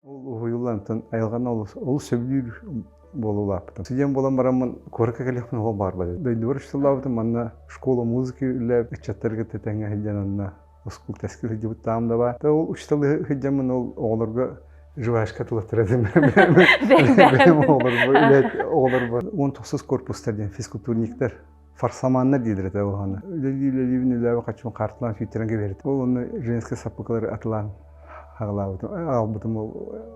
Ол уһуйуллантан айылҕаны олус сөбүлүүр буолуулаахпытым. Студент буолан бараммын куоракка кэлиэхпин оҕо баарбар. Дойдубар учууталлаабытым, манна школа музыки үлэлээбит ыччаттарга тэтэҥҥэ сылдьан анна оскуол тэскэ сылдьыбыттаам да баа. Ол учууталлыы сылдьаммын ол оҕолорго живашка тылаттар этим. Бэйэм оҕолорбор, оҕолорбор, он тохсус корпустар диэн физкультурниктар фарсаманнар дииллэр этэ уһаны үлэлиибин үлэбэ хаччын карталаан сүүттэрэн кэбиэрит ол онно женскай саппыкылары атылаан аҕалаабытым аҕалбытым ол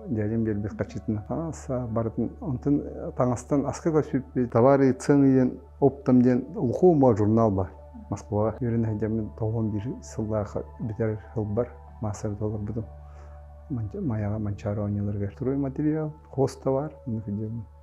дядям биэрбит хаччытына таҥаса барытын онтон таҥастан аскыга сүппүт товары цены диэн оптом диэн ухума журнал бар москваҕа үөрэнэ сылдьаммын тоҕуон биир сыллааха бүтэр сылбар маастар толорбутум майаҕа манчаары оонньууларыгар строй материал хоста бар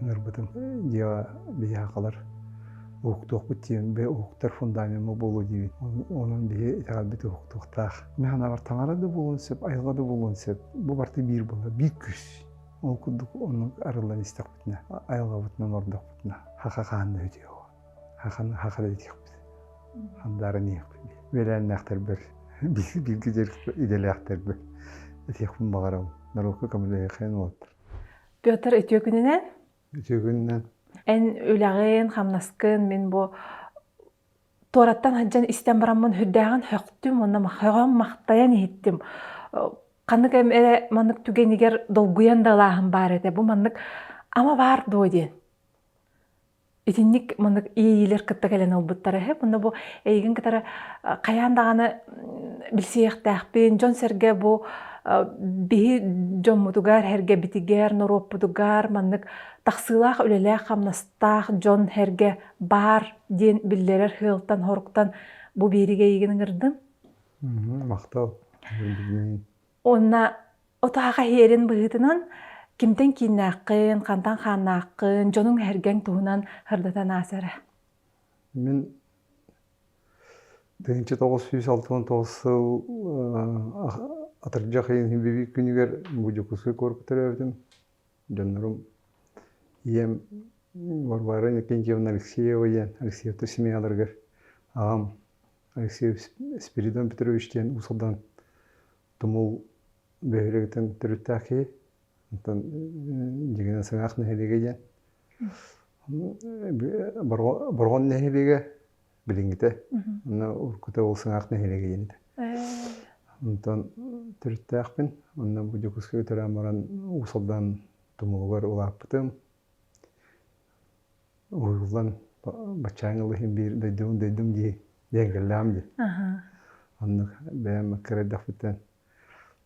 ыҥырбытым дьиэҕэ биһиэхэ халар уһуктуохпут диэн уһуктар фундамема буолуо диибит онон биһи итэҕэлбит уһуктуохтаах мин санаабар таҥара да буолуон сөп айылҕа да буолуон сөп бу барыта биир буолла биир күс ол курдук оннук арыллан истэхпитинэ айылҕабытынан ордохпутуна хаха хаан да үтүө хаханы хаха да итиэхпит хандаарын иһиэхпит үөлээннээхтэрбэр бииргэ дьэрик идэлээхтэрбэр этиэхпин баҕарабын норуокка көмөлөһүөххэ уолаттар Петр үтүөкүнүнэн үтүөкүнүнэн эн үлэҕин хамнаскын мин бу туораттан сылдьан истэн бараммын үрдээҕин хөхтүм уонна хөҕөн махтайан иһиттим ханнык эрэ маннык түгэнигэр долгуйан да ылааһын баар этэ бу маннык ама баар дуо диэн итинник маны иэйиилэр кытта кэлэн ылбыттара үһү. Мунна бу эйигин кытары хайаан даҕаны билсиэхтээхпин, дьон-сэргэ бу биһи дьоммутугар, эргэбитигэр, норуоппутугар маннык тахсыылаах үлэлээх-хамнастаах дьон эргэ баар диэн биллэрэр сыалтан-соруктан бу биэриги эйигин ыҥырдым. Махтал. Уонна отаах эһиэрин быһыытынан кимтэн кииннээххин, хантан хааннааххын, дьонуҥ эһэргэҥ туһунан хардатан аас эрэ. Мин тыһыынча тоҕус сүүс алта уон тоҕус сыл атырдьах ыйын бибиик күнүгэр бу Дьокуускай куоракка төрөөбүтүм. Дьоннорум ийэм Варвара Иннокентьевна Алексеева диэн Алексеевтар семьяларыгар аҕам Алексей Спиридон Петрович диэн уусалдан Тумул бөһүөлэгиттэн төрүттээх киһи. Онтон дьигинэ Сыҥаах нэһилиэгэ диэн. Борҕон нэһилиэгэ билингите. Онно уруккута ол Сыҥаах нэһилиэгэ диэн этэ. Онтон төрүттээхпин. Онно бу Дьокуускайга төрөөн баран Уусалдан Тумулугар улааппытым. уйуллан баччаан ылыһын биир дойдум дойдум дии диэн кэллэҕим дии оннук бэйэм кырэйдэхпитинэн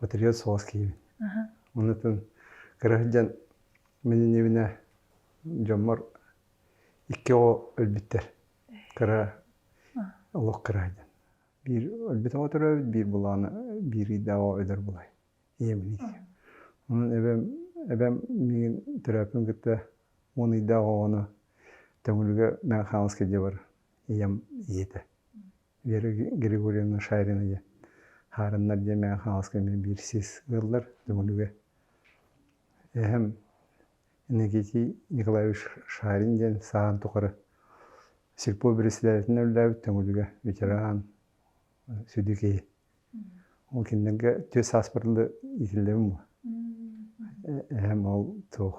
батальон соҕус киирбит оннутун кыра сылдьан мин иннибинэ дьоммор икки оҕо өлбүттэр кыра олох кыра диэн биир өлбүт оҕо төрөөбүт биир былаана биир ыйдаах оҕо өлөр былай иэмник. Онон эбэм, эбэм миигин төрөөппүн кытта уон ыйдаах оҕону Төҥүлүгэ Мэҥэ Хаҥаласка дьэ бар ийэм ийэтэ. Вера Григорьевна Шарина диэн хаарыннар дьэ Мэҥэ Хаҥаласка эмиэ биир сис ыаллар Төҥүлүгэ. Эһэм Иннокентий Николаевич Шарин диэн сааһын тухары сельпо председателинэ үлэлээбит Төҥүлүгэ ветеран, сүдү киһи. Ол кинилэргэ түөрт сааспытын иитиллэбин буо эһэм ол туох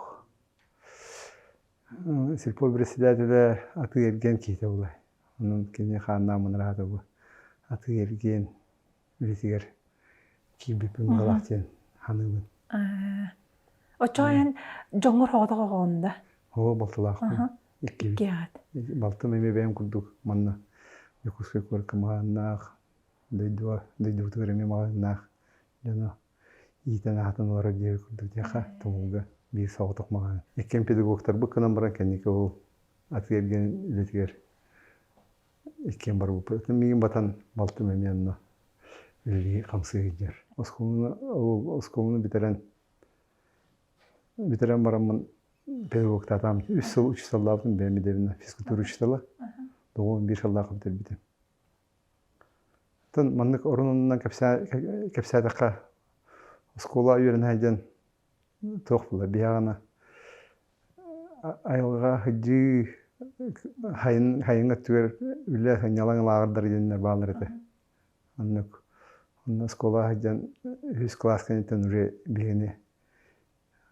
сельпо председателэ атыы эргиэн киһитэ буолуо онон кини хааннаах мунараата буо атыы эргиэн үлэтигэр киирбиппин баҕалаах диэн саныыбын оччоон дьоҥҥор соҕотох оҕоҕун да оо балтылаахпын иккибит балтым эмиэ бэйэм курдук манна дьокуускай куоракка мааннаах дойдуга дойдубутугар эмиэ маҕаһыыннаах дьону иитэн-аһатан олорор диэри курдук диэххэ тобулга биир соҕотох маҕаһыын. Иккиэн педагогтарбыт гынан баран кэнники ол атыы эргэн үлэтигэр иккиэн барбыппыт. Миигин батан балтым эмиэ онно үлэлии-хамсыы сылдьар. Оскуоланы оскуоланы бүтэрэн бүтэрэн бараммын педагогтаатаҕым. Үс сыл, үч сыллаабытым бэйэм идэбинэн физкультура учителя. Доҕоом биир сыллаахха бүтэрбитим. Оттон маннык орунунан кэпсээтэххэ оскуола үөрэнэһэ диэн туох буолуой биһиэхэ айылҕа сыдьыы сайын өттүгэр үлэ сынньалаҥ лааҕырдар диэннэр бааллар этэ оннук онно оскуола сылдьан үһүс кылаас кэнниттэн уже биһигини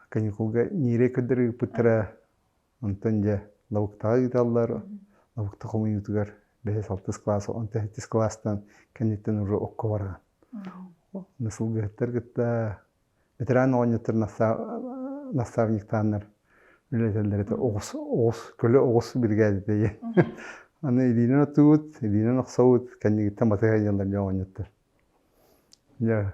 каникулга ньиирэй көрдөрөр ыыппыттара Онтон дьэ лабыктаҕа ыыталлар, лабыкта хомуйуутугар бэһис-алтыс кылаас, он тэһиттис кылаастан кэнниттэн уже окко барҕан. Сылгыһыттар кытта ветеран оҕонньоттор наставниктааннар үлэлэтэллэритэ оҕус оҕус көлө оҕус биригээдэтэ диэн. Аны илиинэн оттубут, илиинэн охсобут, кэннигиттэн батыһа ыйаллар дьэ оҕонньоттор. Дьэ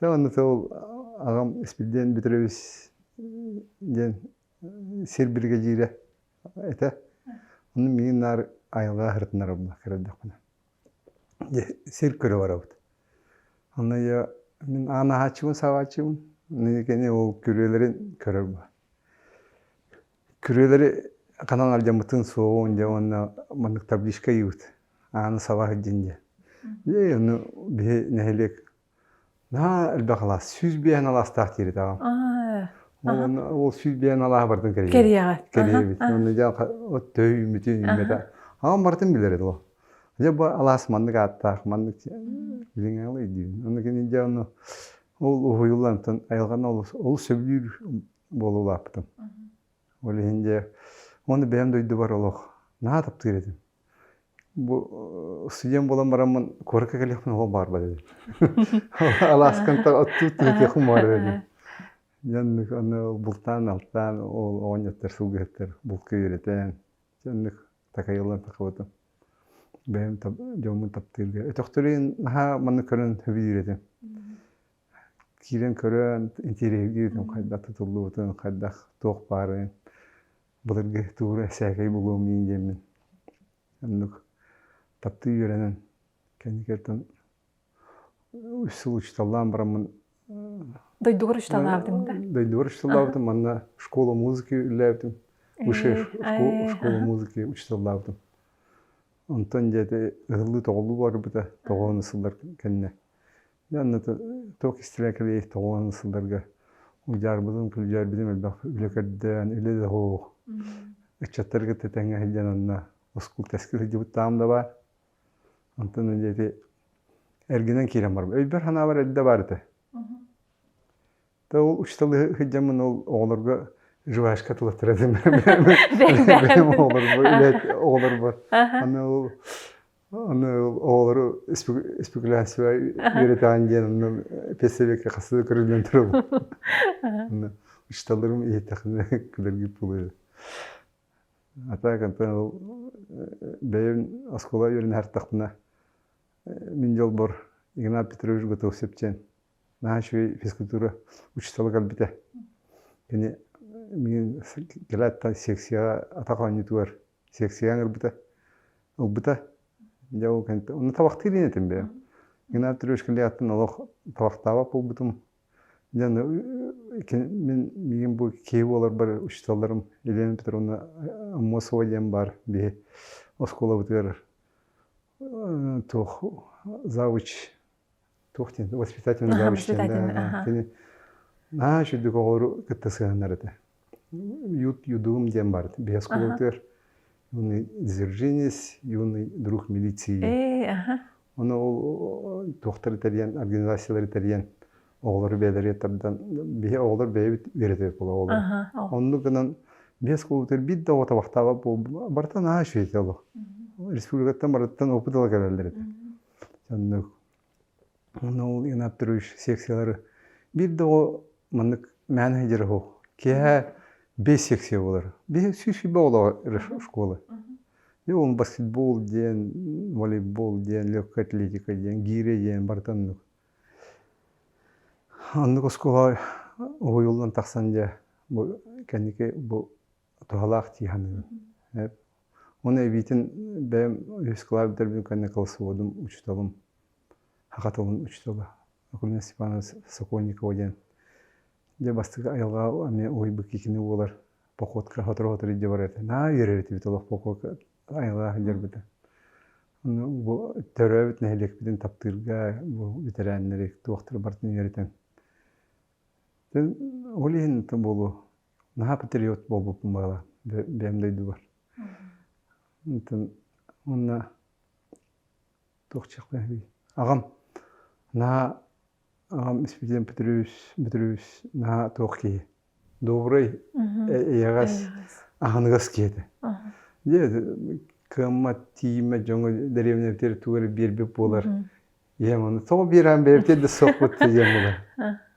Дьэ уонна ол аҕам Испирдиэн Бүтүрэбис диэн сир биригэдьиирэ этэ. Ону миигин наар айылҕа ырытыннарабына көрөрдөхпүнэ. Дьэ сир көрө барабыт. Аны я мин аан аһааччыбын саабааччыбын. Итини ол күрүөлэрин көрөр баҕа. Күрүөлэри ханан алдьаммытын суоҕун дьэ уонна маннык табличка ыйыбыт. Ааны саба сылдьын диэн. Дьэ ону биһи нэһилиэк Наһаа элбэх алаас, сүүс биэһэн алаастаах диэбитэҕим. Ол сүүс биэһэн алааһа барытын кэрийэбит. Кэрийэҕит. Кэрийэбит. Онно дьэ от төһө үүммүтүй, үүммэтэ. Аҕам барытын билэр этэ ол. Дьэ бу алаас маннык ааттаах, маннык билиҥ алай диибин. Онно кини дьэ ону ол уһуйуллантан айылҕаны олус сөбүлүүр буола улааппытым. Ол иһин дьэ уонна бэйэм дойдубар олох наһаа таптыыр этим. бу студент буолан бараммын куоракка кэлиэхпин ол баарбар edi алааскантан оттуу тыытыахым баар edi оннук аны бултаан алтаан ол оҕонньоттор сылгыһыттар булка үөрэтэн оннук такайыллан тахабытым бэйэм дьоммун таптыырга өтөхтөрүн наһаа маннык көрөн сөбүлүүрэтим киирэн көрөн интириэһиргиирим хайдах тутуллубутун хайдах туох баарын Былыргы туура сээкэй буолуом диин диэммин оннук таптыы үөрэнэн кэнникиттэн учууталлаан бараммын дойдугар учууталлаабытым да дойдугар учууталлаабытым манна школа музыки үллээбитим высшая школа музыки учууталлаабытым онтон дьэти ыһыллыы тоҕуллуу барбыта тоҕооно сыллар кэннэ туох истибэ кэлиэй тоҕуон сылдарга удьаарбытын күлдьээрбитин элбэх үлэ көрдөөн үлэ да оһох ыччаттарга тэтэҥҥэ сылдьан анна оскул тэскэ сылдьыбыт таам да баар онтон диэри эргинэн киирэн барбыт өйбөр санаабар эрдэ баар этэ Тыл учууталыы сылдьаммын ол оҕолорго жвачка тылаттара бэйэм оҕолорбор үлэт оҕолорбор аны ол аны оҕолору спекуляция үөрэтэҕин диэн онно педсэбиэккэ хасыы көрүллэн турабын учууталларым иһиттэхинэ күлэргип буолуо а так онтон ол бэйэм оскуола үөрэнэ ардахпына мин дьолбор Игнат Петрович Готов-Сепчэн наһаа үчүгэй физкультура учуутала кэлбитэ кини миигин кэлээттэн секцияҕа атах оонньуутугар секцияҕа ыҥырбыта ылбыта дьэ ол кэнниттэн онно табахтыыр иин этим бэйэм геннадий трешкин леҕэттэн олох табахтаабат буолбутум дьэ аны мин миигин бу киһи буоларбар учууталларым елена петровна аммосова диэн баар биһи оскуолабытыгар туох завуч туох диэн воспитательный завучтан кини наһаа үчүгдүк оҕолору кытта сыһыаннар этэ ют юдум диэн барыт биһиэс кулуутугар юный дзержинец юный друг милиции оны ол туохтар итальян организациялар итальян оҕолору бэйэлэригэр тардан биһи оҕолор бэйэбит үөрэтэбит була оҕолор оннук гынан биһиэс кулуутугар биир да оҕо табахтаабат буол барыта наһаа үчүгэй олох республикаттан барытыттан опыт ала кэлэллэр этэ оннук ну ол инап туруш секциялары биирдэ оҕо маннык мээн сылдьар уһу киэһэ бэс секция буолар биһи сүүс сүүрбэ оҕолоох школа ол баскетбол диэн волейбол диэн легкая атлетика диэн гире диэн барыта оннук оннук оскуола уһуйуллан тахсан дьэ бу кэнники бу туһалаах дии саныыбын. Ону эбиитин бэйэм үһүс клавиатурбын кэннэ колсуодум учууталым, саха тылын учуутала Акулина Степановна Сокольникова диэн дьэ бастакы айылҕаҕа эмиэ уһуйбут кини буолар походка сотору-сотору илдьэ барар этэ. Наа үөрэр этибит олох походка айылҕаҕа сылдьарбыта. Бу төрөөбүт нэһилиэкпитин таптыырга бу ветерааннары, туохтары барытын үөрэтэн. Ол иһин буолуо наһаа патриот буолбуппун баҕара бэйэм дойдубар уонна туох диэхпин аҕам наһаа аҕам испидиэн петрович петрович наһаа туох киһи добрый эйэҕэс аһыныгас киһи этэ дьэ кыаммат тиийиммэт дьоҥҥо дэриэбинэбитигэр тугу эрэ биэрбит буолар ийэм ону тоҕо биэрээн бэйэбитиэн да суохпут диэн буолар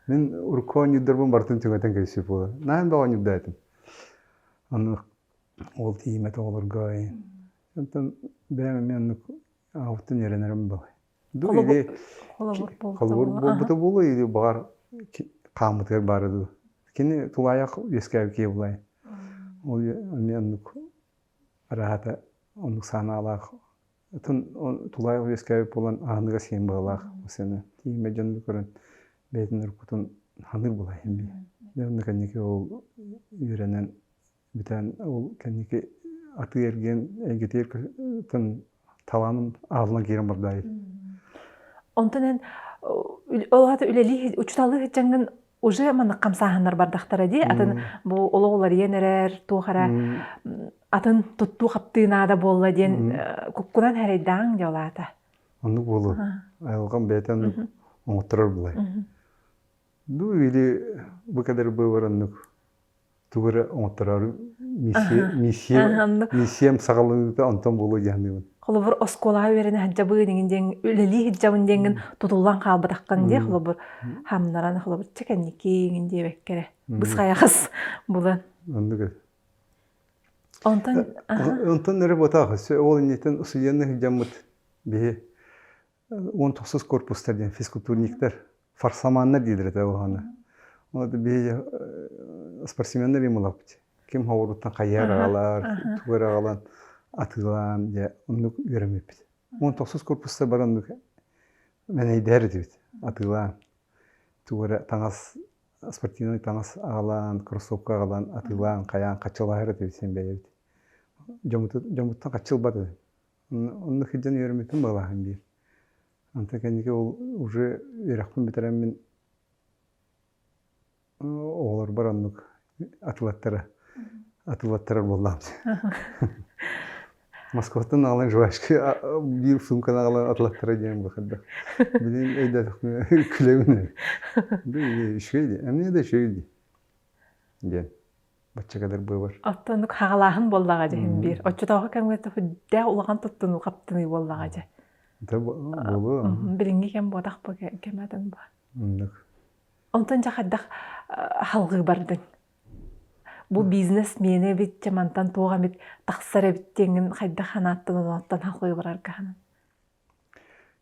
мин урукку оонньуурдарбын барытын чугатан кэбисиир буолар наһаа бөҕө оонньуурдаатым ону ол тииймэт оҕолорго оттон бэйэм эмиэ оннук аҕабыттан үөрэнэрим баҕай холобур буолбута буолуо или баҕар хааммытыгар баара дуу кини тулаайах үөскээбит киһи булай ол эмиэ оннук араһата оннук саанаалаах атын тулаайах үөскээбит буолан аһыныгас сиэн баҕалаах массыына тиийиммэт дьон көрөн бэйэтин уруккутун аһыныыр булаайын бии дьэ онно кэнники ол үөрэнэн бүтээн ол кэнники атыы эргиэн эйгэтигэр тын талааным аалынан киирэн бардаайы онтон эн ол аата үлэлии учууталыы сылдьаҥҥын уже маннык хамсааһыннар бардахтара дии атын бу олох уларыйан эрэр туох эрэ атын туттуу хаптыы наада буолла диэн куккунан эрэйдааҥ дьолаата оннук буолуо айылҕам бэйэтин оҥотторор былай ну или бу кадр быыбар оннук тугу эрэ оҥотторор миссиям саҕаланыыта онтон буолуо дьаһаныыбын холобур оскуолаҕа үөрэнэ сылдьабын иҥин диэн үлэлии сылдьабын диэҥҥин тутуллан хаалбатаххын дии холобур хамнаран холобур чэ кэнники иҥин диэбэккэрэ бысхайахас булан оннук онтон онтон эрэ ботаах ол инниттэн сыдьанна сылдьаммыт биһи уон тахсыс корпуста диэн физкультурниктар фарсаманнар дииллэр этэ уһаны биһиги спортсменнар им ылабыт ким оҕуруттан хайыар аҕалар тугу аҕалан атыылаан дьэ оннук үөрэммиппит уон тахсыс корпуста бар оннук мэнэйдээр этибит атыылаан тугу эрэ таҥас спортивный таҥас аҕалаан кроссовка аҕалан атыылаан хайаан хаччылаһар этибит син бэйэбит дьоммуттан хаччы ылбат этим Онно сылдьан үөрэммитим балаһан диир. Онтон кэнники ол уже үөрэхпин бүтэрэммин оҕолорбор оннук атылаттара атылаттарар буоллаҕым. Москваттан аҕалан жвачка биир сумканы аҕалан атылаттара диэн быһырдах. Билин өйдөтөхмө күлөбүн үчүгэй ди, а мне дочь ди диэн. бачча кадыр быыбар оттон оннук хагалааһын буоллаҕа дьэ син биир оччотооҕу кэмҥэ төһө улахан туттунуу хаптыныы буоллаҕа дьэ да буолуо билиҥҥи кэм буотах бу кэм атын бу оннук онтон дьэ хайдах салгыы бардыҥ бу бизнес миэнэ эбит дьэ мантан туох эмит тахсар эбит диэҥҥин хайдах санааттын онуоттан салгыы барарга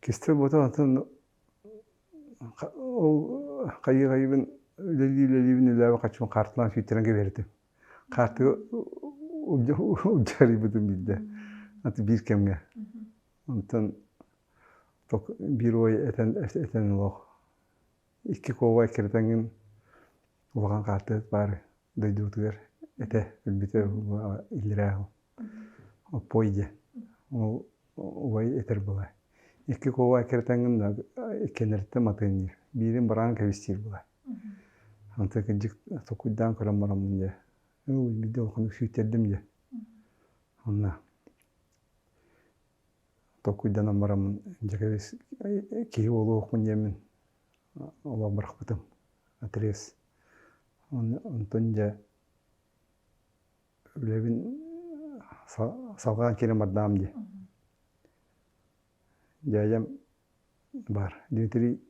Кистэл ботон атын ол хайыы-хайыыбын үлэлии-үлэлиибин үлэбин хаччым хаартылаан сүйтэрэн кэбиһэритим. Хаартыга удьарыйбытым биирдэ аты биир кэмҥэ. Онтон биир уой этэн этэн олох икки куобах иккирэтэн күн улахан хаартыат баар дойдубутугар этэ өлбүтэ иллирээ уһу оппуой дьэ ол убай этэр була икки куобах иккирэтэн күн да иккиэннэриттэн матыанньыыр биирин быраан кэбистиир була ante кырдьык сокуйдаан көрөн бараммын дьэ ол билбидde улаханнык сүүйтэрдим дьэ онно толкуйданан бараммын дьэкэбис киһи буолуохмун диэммин олох бырахпытым отрез онтон дьэ үлэбин салҕаан киирэн бардаам дии дядям баар дмитрий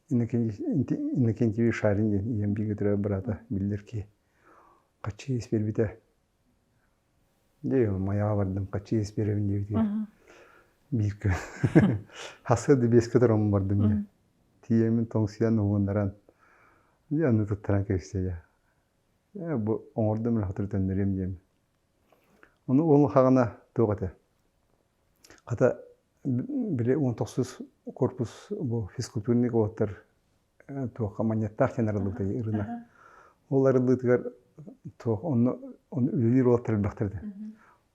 иннокентьевич шарин диэн ийэм бииргэ төрөөбүт быраата биллэр киһи хаччы иис биэрбитэ Дии, Майаҕа бардым, хаччы иэс биэрэбин диэбитигэр бииркэ хасса да биэскэ тороммун бардым дии. Тиийэмин тоҥсуйан уһууннаран дьэ аны туттаран кэбистэ дьэ бу оҥордум эле сотору төннөрүөм диэм. Ону ол хаҕына туох этэ хата били уон тохсус корпус бу физкультурник уолаттар туохха манньыаттаах диэн арыллыбытай ырына ол арыллыытыгар туох онно онно үлэлиир уолаттар элбэхтэр да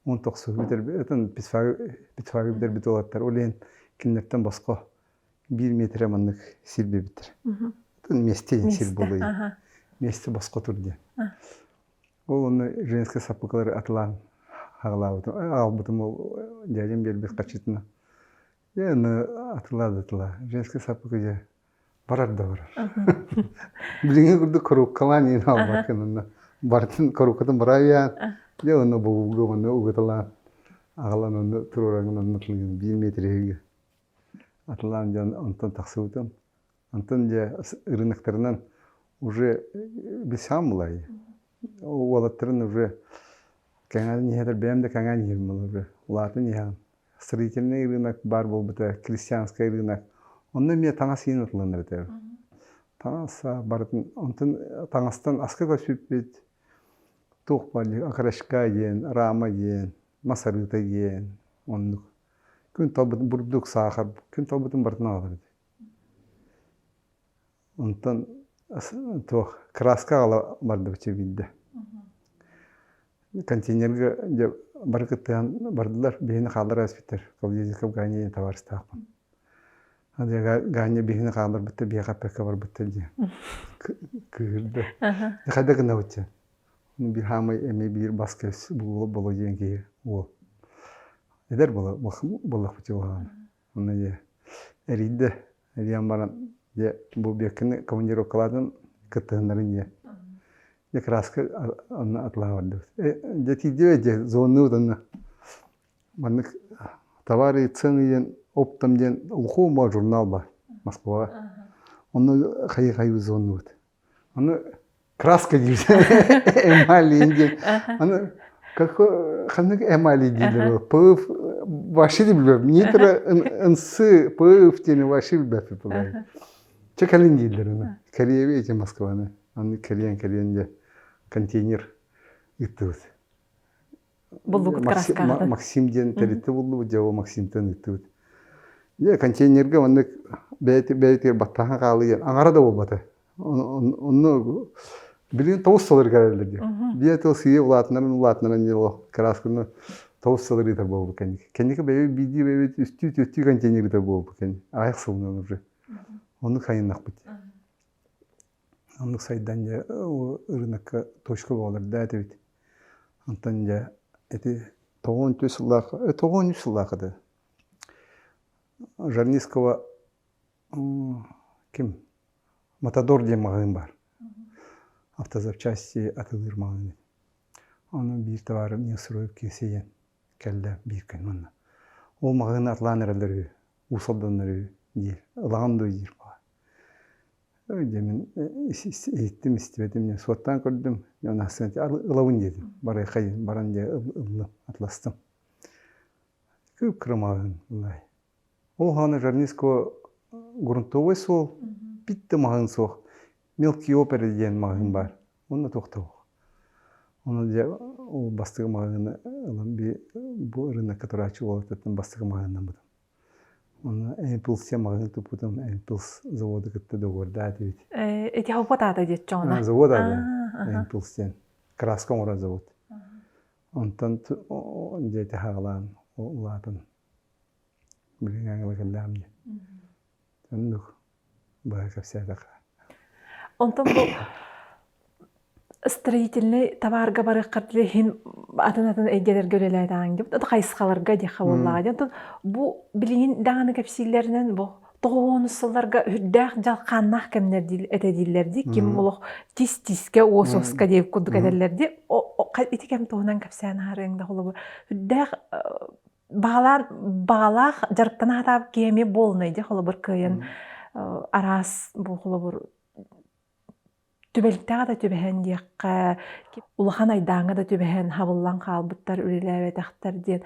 он тохсус бүтэрбитин битфагы бүтэрбит уолаттар ол иһин кинилэртэн босхо биир метрэ маннык сир бэбиттэр миэсте сир буолуо миэсте босхо тур диэн ол онно женская саппыкалары атылаан хаалаабытым аалбытым ол дядям биэрбит хачытына Дьэ аны атыла-атыла женский саппыкы дьэ барар да барар. Билиҥҥи курдук корууккалаан иин аалбаккын онно барытын корууккатын бырайаан дьэ ону бобууга ону угаталаан аҕалан ону туруораҥын онно биир метриһигэ атылаан дьон онтон тахсыбытым Онтон дьэ ырынактарынан уже бисамлай уолаттарын уже кэҥээн иһэтэр бэйэм да кэҥээн иһэрим уже улаатан иһэҕин строительный ырыынак баар буолбута крестьянскай ырыынак онно эмиэ таҥас иһин атыланар этэ таҥас барытын онтон таҥастан аска көсүппүт туох баалый окорочка диэн рама диэн масарыта диэн оннук күн талбытын бурдук саахар күн талбытын барытын аҕалар эбит Онтон туох кырааска аҕала бардыбычча биирдэ. Контейнерга дьэ бары кыттыһан бардылар, биһини хааллара испиттэр. Калдезика Ганя диэн табаарыстаахпын. Ганя биһини хаалларбыттар, биһиэхэ эппэккэ барбыттар диэн кыыһырда. Хайда гынабытча? Биир хаамай эмиэ биир бас-көс буолуо диэн киһи уол. Эдэр буоллахпытча буолаҕын. Онно ийэ эрийдэ, эрийэн баран дьэ бу Беккины командировкалаатын кыттыһыннарын ийэ дьэ кырааска онно атлаһа бардыбыт дьэ тиийдибэт дьэ звоннубут онно маннык товары цены диэн оптом диэн глухой журнал бар Москваҕа онно хайыы хайыы звоннубут Аны краска диибит эмали диэн. Аны ханнык эмали дииллэр пыв вообще билбэппин нитро ынсы пыв диэни вообще билбэппин пугай. Чэ кэлин дииллэр аны кэриэби эти Москваны аны кэриэн кэриэн дьэ контейнер ыыттыбыт Максим диэн тэрилтэ буллубут, дьэ Максимтан ыыттыбыт. Дьэ контейнерга маннык бэйэтигэр баттаһан хаалыйар аҥара да буолбата. Онно билигин тоҕус салырыгар эрэллэр диэн. Биир тыл сыыйа улаатынарын улаатынарын диэн олох кыраасканы тоҕус салыр ыытар буолбут кэнники. Кэнники бэйэбит биирдии бэйэбит үстүү түөртүү контейнер ыытар буолбут кэнники. Аҕыйах сылынан уже. Ону хайыннахпыт. Оннук сайдан дьэ ырыынакка точка буолар да этибит. Онтон дьэ ити тоҕуон үс сыллаах тоҕуон үс сыллаах еді Жарницкого ким Матадор диэн маҕаһыын баар автозапчасти атылыыр маҕаһыын еді ону биир табаарым Несроев киэсийэн кэллэ биир күн манна ол маҕаһыыны атлаан эрэллэр үһү уус алданнар үһү диир ылаҕын дуо диир дьэ мин иһиттим истибэтим дьэ суоттаан көрдүм дьон ахсын ылабын диэтим барыаххай баран дьэ ыллым атластым кырымаҕын ол хаана жарниско грунтовой суол пит да маҕаһыын суох мелкий опера диэн маҕаһыын баар онно тохтоох онон дьэ ол бастакы маҕаһыыны ылан бу ырыынакка турааччы буолартыттан бастакы маҕаһыыннаммытым Уонна Эмпилс маҕаһыын туппутум, Эмпилс заводу кытта договордаат эбит. Э, ити хоппот аата диэт чоҕуна? Завод аата. Эмпилс диэн. Краска оҥорор завод. Онтон дьиэтэ хаалаан улаатан билиҥҥи кэллэҕим дии. Оннук баҕа кэпсээтэххэ. Онтон бу строительный табаарга барыаххыт иһин атын-атын эйгэлэргэ үлэлээтэ ааҥ диэбит. Это хайысхаларга диэххэ буоллаҕа диэн. Онтон бу билигин даҕаны кэпсииллэринэн бу тоҕуонус сылларга үрдээх дьалхааннаах кэмнэр диил этэ дииллэр дии. Ким олох тис-тискэ, уос-уоска диэки курдук этэллэр дии. Ити кэм туһунан кэпсээн аһарыаҥ да холобур. Үрдээх баалаар баалаах дьарыктана хатаап киэми буолунайди холобур кыайын араас бу холобур түбэлтэҕэ да түбэһэн диэххэ улахан айдааҥҥа да түбэһэн хабыллан хаалбыттар үлэлээбэтэхтэр диэн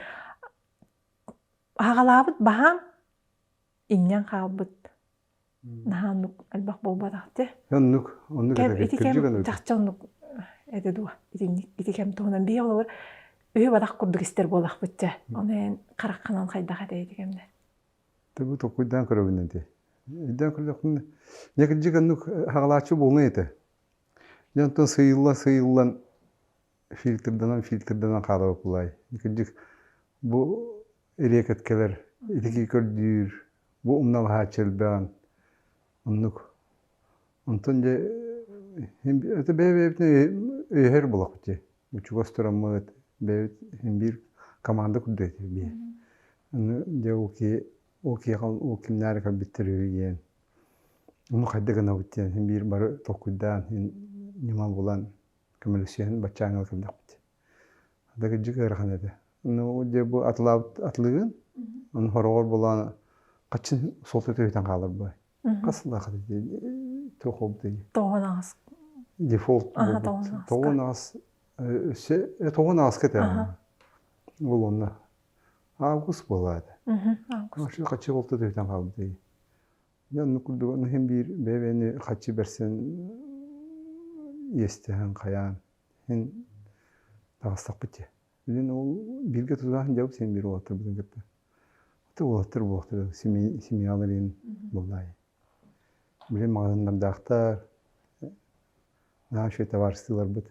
аҕалаабыт баһаам иҥнэн хаалбыт наһаа оннук элбэх буолбатах те оннук оннук это ити кэм чахчы оннук этэ дуо итинник ити кэм туһунан бии олобур үһү бадах курдук истэр буолахпыт чэ ону эн хараххынан хайдах этэй ити кэмнэ ты токуйдаан көрөбүнэн ти үйдään көрдөхпүнэ некирдик оннук хагалааччы буолуна этэ дьонтон сыйылла сыйыллан фильтрданан фильтрданан хаалар окулай итинник бу эриэкэткэлэр итики көрдүүр бу умналаһааччы элбэҕин оннук онтон дьэ это бэйэ-бэйэбитин өйөһөр болохут дии учугас тураммыт бэйэбит син биир команда курдук этибит бии дьэ ол киһи ол киһиэхэ ол кимнээри көрбүттэр үһү диэн ону хайда гынабыт диэн син биир бары толкуйдаан син ньыма булан көмөлөссүһэн баччааҥҥа көрдөхпүт ата кырдьык ыарахан этэ ну дьэ бу атылаабыт атылыгын ону хороҕор булаан хаччын суолта түһүтэн хааларбай хас лахат туох обдый тоҕон аҕас дефолт тоҕон аҕас өссө тоҕон аҕаска этэ бұл онна август болады август хаччы холта түһүтэн хаалбытай Дьэ онно курдук онно иһин биир бэбэни хаччы берсэн иэстэһэн хайаан иһин таҕыстахпыт дьэ. Билин ол бииргэ тутаһан дьабыт син биир уолаттарбытын кытта. Аты уолаттар буолтура семьялар иһин буллаай. Били маҕаһыыннардаахтар наши товарыстыыларбыт.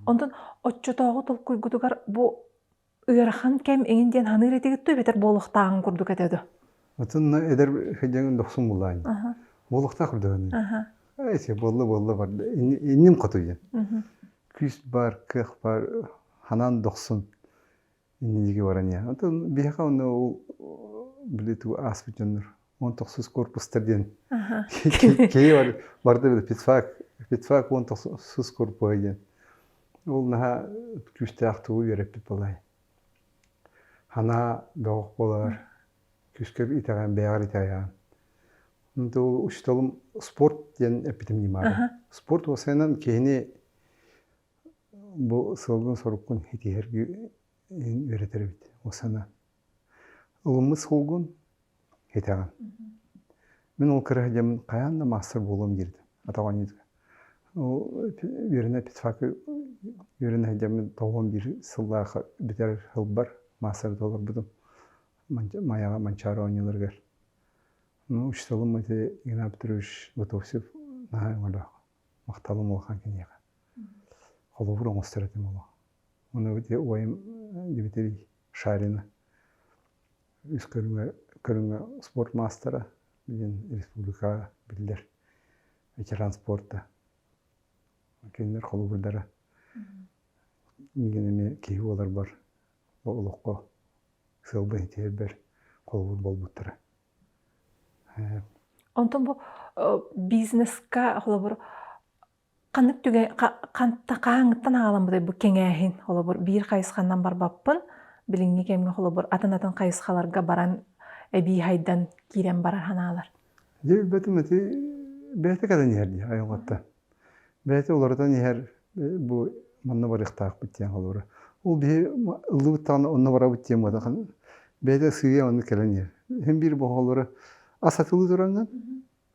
Онтон оччотооҕу толкуйгутугар бу ыарахан кэм эҥин диэн саныыр этигит эбэтэр буолуохтааҕын курдук этэ дуо ытынна эдэр хадьаҥ дохсун булаан буолуохтаах көрдөһөөнү эти болла болла бар иннин хотуйан күүс бар кыах бар ханан дохсун инниги баран я атын биһэка онно ол били туу ааспыт дьоннор уон тохсус корпустар диэн киһи барда били педфак педфак уон тохсус корпуһа диэн ол наһаа күүстээх тугу үөрэппит балай ханаа бөҕөх болар күүскэр итэҕээн бэйэҕэр итэҕэйэҕин то учителым спорт диэн эппитим ньымаата спорт уосайынан киһини бу сылгын соруккун итиһэрги үөрэтэр эбит уосана ылыммыт сулгун итэҕин. Мин ол кыра дьэммин хайаан да маастар буолуом диирдим атаҕынньытыга. Үөрэнэ физфака үөрэнэ сылдьаммын тоҕуон биир сыллаах бүтэр сылбар маастарга олорбутум Майаҕа Манчаары оонньууларыгар. Ну, учителым ити Игнат Петрович Готовцев наһаа өҥөлөөх махталым улахан киниэхэ. Холобур оҥостор этим оло. Ону ити уайым Дмитрий Шарина ис көрүҥэ, көрүҥэ спорт маастара, диэн республикаҕа биллэр ветеран спорта кинилэр холобурдара миигин эмиэ киһи буоларбар олоххо сыалбын тиэрбэр холобур буолбуттара онтон бу бизнеска холобур Ханнык түгэй хаһааҥҥыттан аҕаламмытай бу кэҥээһин? Холобур, биир хайысханан барбаппын. Билиҥҥи кэмҥэ холобур атын-атын хайысхаларга баран эбии хайдан киирэн барар санаалар. Дьэ билбэтим ити бэйэтэ кэлэн иһэр дии айылҕаттан. Бэйэтэ уларытан иһэр бу манна барыахтаахпыт диэн холобура. Ол биһи ыллыбыт даҕаны онно барабыт диэн быһата бэйэтэ сыыйа маннык кэлэн иһэр. Иһин биир бохолоро ас сатыы тураҥҥын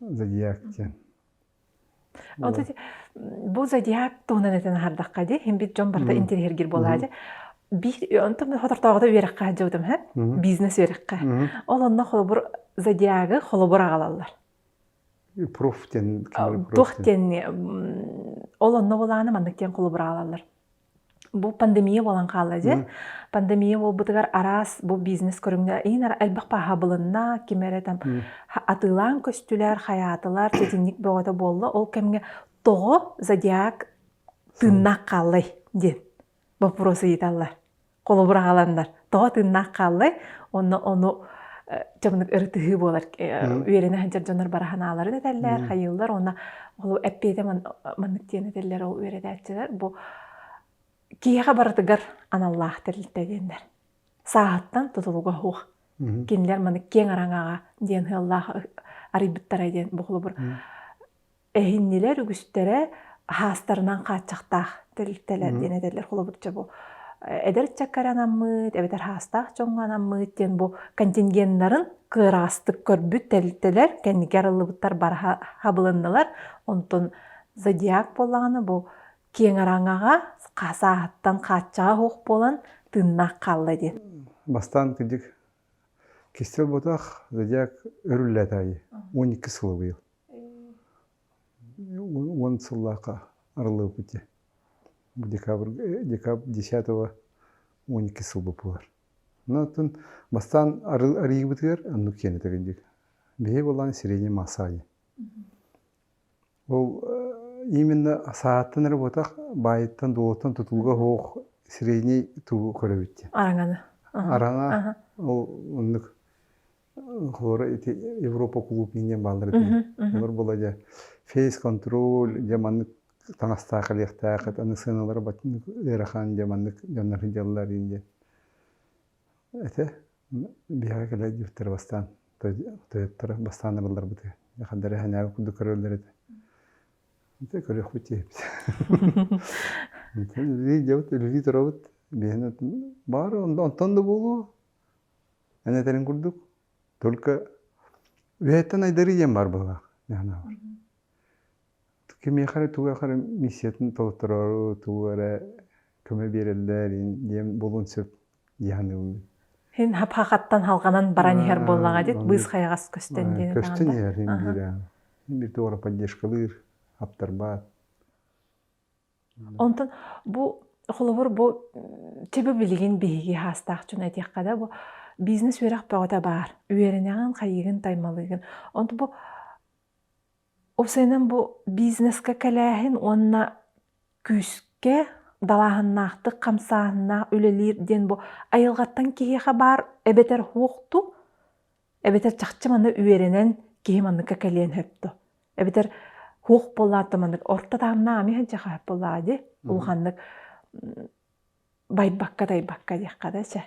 Зодиак диэн. Ол бу зодиак туһунан этэн аһардахха дии, иһин бит дьон барыта интириһиргир буолаа дии. Биир онтон хотортооҕута үөрэххэ дьыбытым һэ, бизнес үөрэххэ. Ол онно холобур зодиагы холобур аҕалаллар. Проф диэн. Туох диэн ол онно булааны маннык диэн холобур аҕалаллар. бу пандемия буолан хаалла дьэ. Пандемия буолбутугар араас бу бизнес көрүҥнэ иһинэр элбэх пааһабылынна, ким эрэ там атыылаан көстүлэр, хайаатылар, сэтинньик бөҕөтө буолла. Ол кэмҥэ тоҕо зодиак тыыннаах хааллай диэн боппуруос ыйыталлар. холобур аҕаланнар тоҕо тыыннаах хааллай онно ону дьонук ырытыһыы буолар үөрэнэ сылдьар дьонор бара санааларын этэллэр хайыыллар уонна ол эппиэтэ маннык диэн этэллэр ол үөрэтээччилэр бу киһиэхэ барытыгар аналлаах тэрилтэ диэннэр сааһыттан тутулуга суох кинилэр маны киэҥ араҥаҕа диэн сыаллаах арыйбыттара диэн бу холобур эһиннилэр үгүстэрэ аһаастарынан хааччахтаах тэрилтэлэр диэн этэллэр холобурча бу эдэр ыччакка анаммыт эбэтэр хаастаах дьоҥҥо анаммыт диэн бу контингеннарын кыараастык көрбүт тэрилтэлэр кэнники арыллыбыттар бара хабылыннылар онтон зодиак буоллаҕына бу киэҥ араҥаҕа сааһыттан хааччаҕа суох буолан тыыннаах хаалла диэн бастаан кырдьык кистэл ботах зодиак өрүллээт аайы он икки сылы быйыл Уон сыллаахха арылыыпыти декабрь декабрь десятого уон икки сыл боппуттар онтон бастаан арыйыыбытыгар оннук киэн этэрин диэки биһиги буоллаан средний масса диэн ол именно сааттан эрэ буотах баайыттан дуолуттан тутууга суох средний туру көрөбүт диэн араҥаны араҥа ол оннук Хора ити Европа кулуупунан диэн бааллар этэ. Олор була дьэ фейс-контроль дьэ маннык таҥастаах элиэхтээх аны сыаналара ыарахан дьэ маннык дьоннор сыдьаллар ин диэн этэ биһиэхэ кэлэ диэхтэр бастаан тойоттора бастаан ырылларбыты хаддара хэнээби курдук көрөллөр этэ ити көрүөхпүт тиэбит үлэлии дьабыт үлэлии торобут биһиэнэ баары онтон да буолуо Эн этэрин курдук, только үһэттэн айдары диэн баар быһылаах дьаһанаабар. Кимиэхэ эрэ тугу ахары миссиятын толотторору, тугу эрэ көмө биэрэллэр диэн булун сөп дьаһаныыбын. Син хапхахаттан халҕанан баран иһэр буоллаҕа дит, быыс хайаҕас көстөн диэн даҕаны. Көстөн иһэр, биир биир туора поддержкалыыр, аптарбаат. Онтон бу холобур бу төбө билигин биһиги хаастаах дьоно этиэххэ да бу бизнес үөрэх бөҕөтө баар. Үөрэнэҕин, хайыгын, таймалыгын. Онтон бу ол сыанан бу бизнеска кэлээһин уонна күүскэ далааһыннаахтык хамсааһыннаах үлэлиир диэн бу айылҕаттан киһиэхэ баар эбэтэр уохту эбэтэр чахчы маны үөрэнэн киһи манныкка кэлиэн сөптө эбэтэр хуох буоллаата маннык орто тааннаами сылдьаха буоллаа ди улаханнык байбакка тайбакка диэххэ да сэ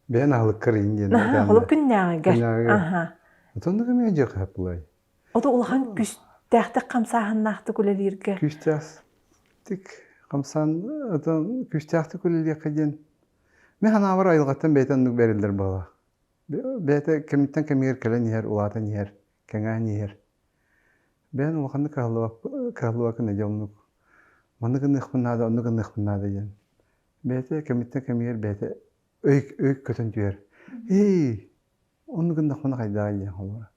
бэйэн аһылыккар ин диэн холук күннээҕигэр аха отоннуга эмиэ дьыха булай ото улахан күстээхтик хамсааһыннаахтык үлэлииргэ күстээх хамсаан отон күстээхтик үлэлиэххэ диэн мен ханаабар айылгаттан бэйтаннык бэриллэр бала бэйэтэ кэмиттэн кэмигэр кэлэн иһэр улаатан иһэр кэҥээн иһэр бэйэн улаханнык кыһаллыбаккын дьэ оннук манны гыныахпын наада онно гыныахпын наада диэн бэйэтэ кэмиттэн кэмигэр бэйэтэ өйг өйг көтөн түһэр ии онно гыннахпына хайдааҕый диэн холобура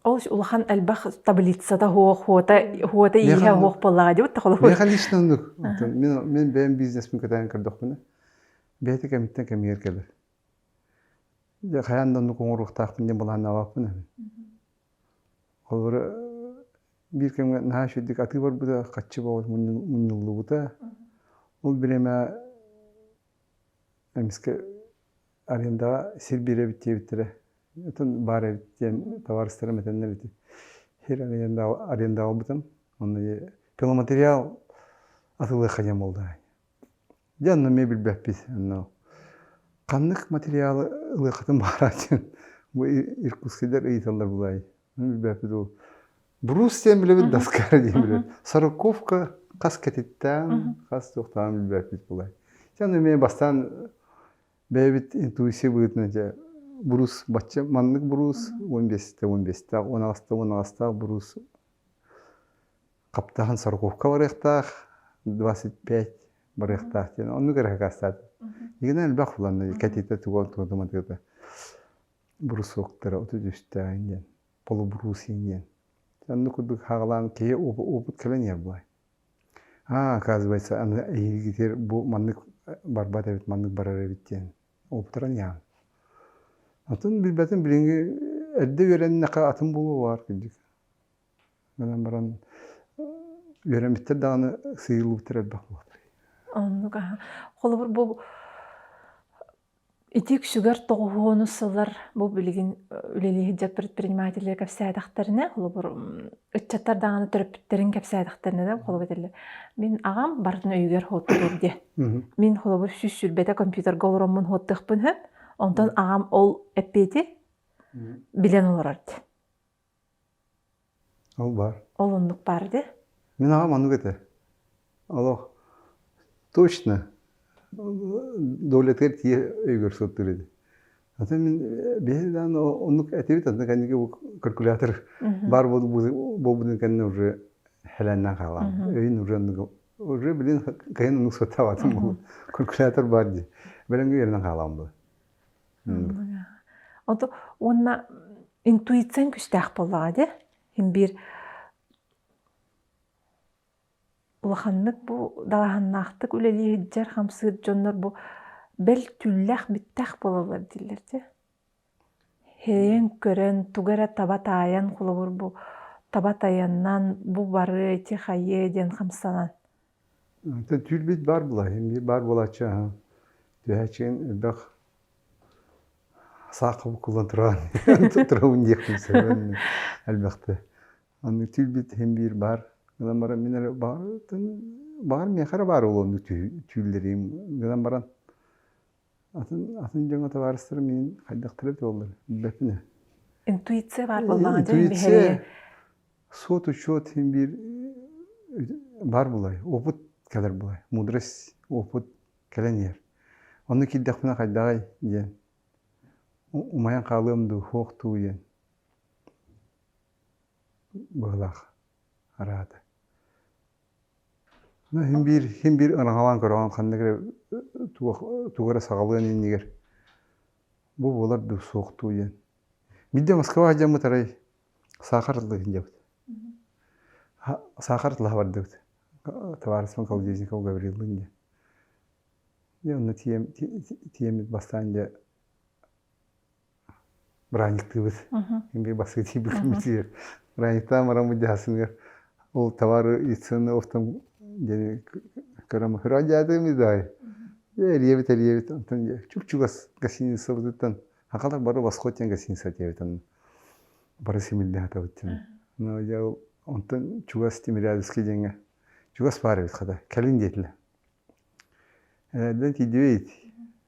ол улахан элбэх таблицата суох хуота хуота ииһэ суох буоллаҕа дии да холобур миэхэ лично оннук мин бэйэм бизнеспин кытайан көрдөхпүнэ бэйэтэ кэмиттэн кэмигэр кэлэр дьэ хайаан да оннук оҥоруохтаахпын диэн былааннаабаппын эбин холобура биир кэмҥэ наһаа үчүгэйдик атыы барбыта хаччы боҕот мунньуллубута ол бириэмэ эмискэ арендаҕа сир биэрэбит диэбиттэрэ оттон баар эбит диэн табаарыстарым этэннэр эти сир арендаҕа арендаҕа бутам онно пиломатериал атылыахха диэн буолда Дьэ онно эмиэ билбэппит. Ханнык материалы ылыаххытын баҕарар диэн бу иркутскайдар ыйыталлар былай. Билбэппит ол. Брус диэн билэбит Даскара диэн билэбит. Сороковка хас кэтиттээн, хас туохтаан билбэппит былай. Дьэ аны эмиэ бастаан бэйэбит интуиция быһыытынан дьэ брус бачча маннык брус он бэсте он бэстээх он аҕастаах он аҕастаах брус Хаптахан сороковка барыахтаах, двадцать пять барыахтаах диэн оннук эрэ акаастаата. Игинэ элбэх уланна кэтитэ туган туодуматыта брусоктара отут үстаан диэн полубрусин диэн онну курдук хаалаан киһи опут кэлэн иһэр буолай а оказывается аны эйигитир бу маннык барбат эбит маннык барар эбит диэн уоптаран иһаан атын билбэтин билиҥҥи эрдэ үөрэннэхэ атын буолуо баар кырдьык гынан баран үөрэммиттэр даҕаны сыыйыллыбыттар элбэх буолар оннук аһа холобур бу ити үксүгэр тоҕуһуонус сыллар бу билигин үлэлии сылдьар предпринимателлэр кэпсээтэхтэринэ холобур ыччаттар даҕаны төрөппүттэрин кэпсээтэхтэринэ да холобу этэллэр мин аҕам бартын өйүгэр хоттуур диэ мин холобур сүүс сүүрбэтэ компьютерга олороммун хоттуохпун сөп онтон аҕам ол эппиэти билэн олорор диэ Ол баар. Ол оннук баар дии. Мин аҕам оннук этэ. Олох точно доолэтигэр тиийэ өйгөр сылдыыр этэ. Атын мин биһи даан оннук этибит аны кэнники бу калькулятор баар буолбутун кэннэ уже хэлээннээн хаалаам. Өйүн уже оннук уже билин кыйын оннук сыттаабатым буолуо. Калькулятор баар дии. Бэлэмгэ үөрэнэн хаалаам буолуо. Онту уонна интуицияҥ күүстээх буоллаҕа дии. Син биир улаханнык бу далаһаннаахтык үлэлии сылдьар, хамсыыр дьоннор бу бэл түүллээх бүттэх буолаллар дииллэр дии. Сэрэйэн көрөн, тугу эрэ таба таайан, холобур бу таба тайанан, бу бары ити хайыа диэн хамсанан. Түүл-бит баар булаһын, биир баар буолааччы аһа түһээччигин элбэх саахха буккуллан туран туттарабын диэхпин сөбүн элбэхтэ. Аны түүл-бит иһин биир баар гынан баран мин эрэ баҕар миэхэ эрэ баар ол онну түүл- түөллэрим гынан баран атын атын дьоҥҥо табаарыстарым миин хайдахтара эбит буоллар билбэппин ээ интуиция баар буоллаҕа дьэ интуиция сот учет иһин биир бар булай опыт кэлэр булай мудрость опыт кэлэн иһэр онно киирдэхпинэ хайдаҕай диэн умайан хаалыам дуу суох дуу диэн быһылаах араата Иһин биир иһин биир ынаҕалаан көрөҕүн ханнык эрэ туох тугу эрэ саҕалыан иннигэр бу буолар дуо суох дуу диэн. Биирдэ Москва сылдьаммыт арай саахар атлыы сылдьабыт. Саахар атлаһа бардыбыт товариществом Колодезникову Гавриловым диэн. Дьэ онно тиэм тиэммит бастаан дьэ бырайыктыыбыт биир бастакы тиийбит бырайыктаан баран мадьаһасыныгар ол товар инициативный оттон диэни көрөн көрөөн дьаатымый даҕай эрийэбит эрийэбит онтон чугчугас гостиницабытыттан хахалар бары восход диэн гостиница диэбит онно бары симиллэн атабыт тин но дьэ онтон чугас тимирязевский диэҥҥэ чугас баар эбит хата кэлин диэтилэр эрдэн тиийдибит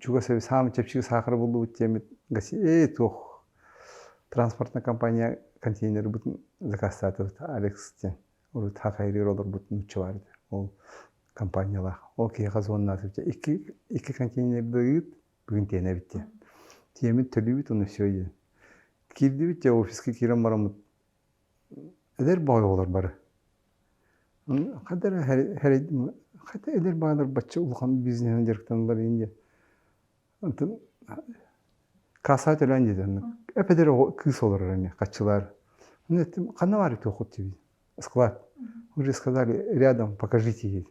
чугас эбит саамай чэпчэки саахары буллубут диэммит «Эй, туох транспортная компания контейнербытын закастаатыбыт Алекс диэн урут хахайрыыр олорбут нуучча баар этэ ол компаниялаах ол киһиэхэ звоннаатыбыт икки икки контейнердыыт бүгүн тиэнэбит диэн тиэммит төлүүбүт уонна все диэн киирдибит дьэ офиска киирэн бараммыт Эдэр баҕайы оҕолор бары хата эрэ хата эдэр баҕалар бачча улахан бизнеһинэн дьарыктаналлар ини диэн онтон кассаҕа төлөөн диэтэ онно эпэдэр оҕо кыыс олорор эмиэ хаччылаар ханна баар үтүөххут диэбит склад уже сказали рядом покажите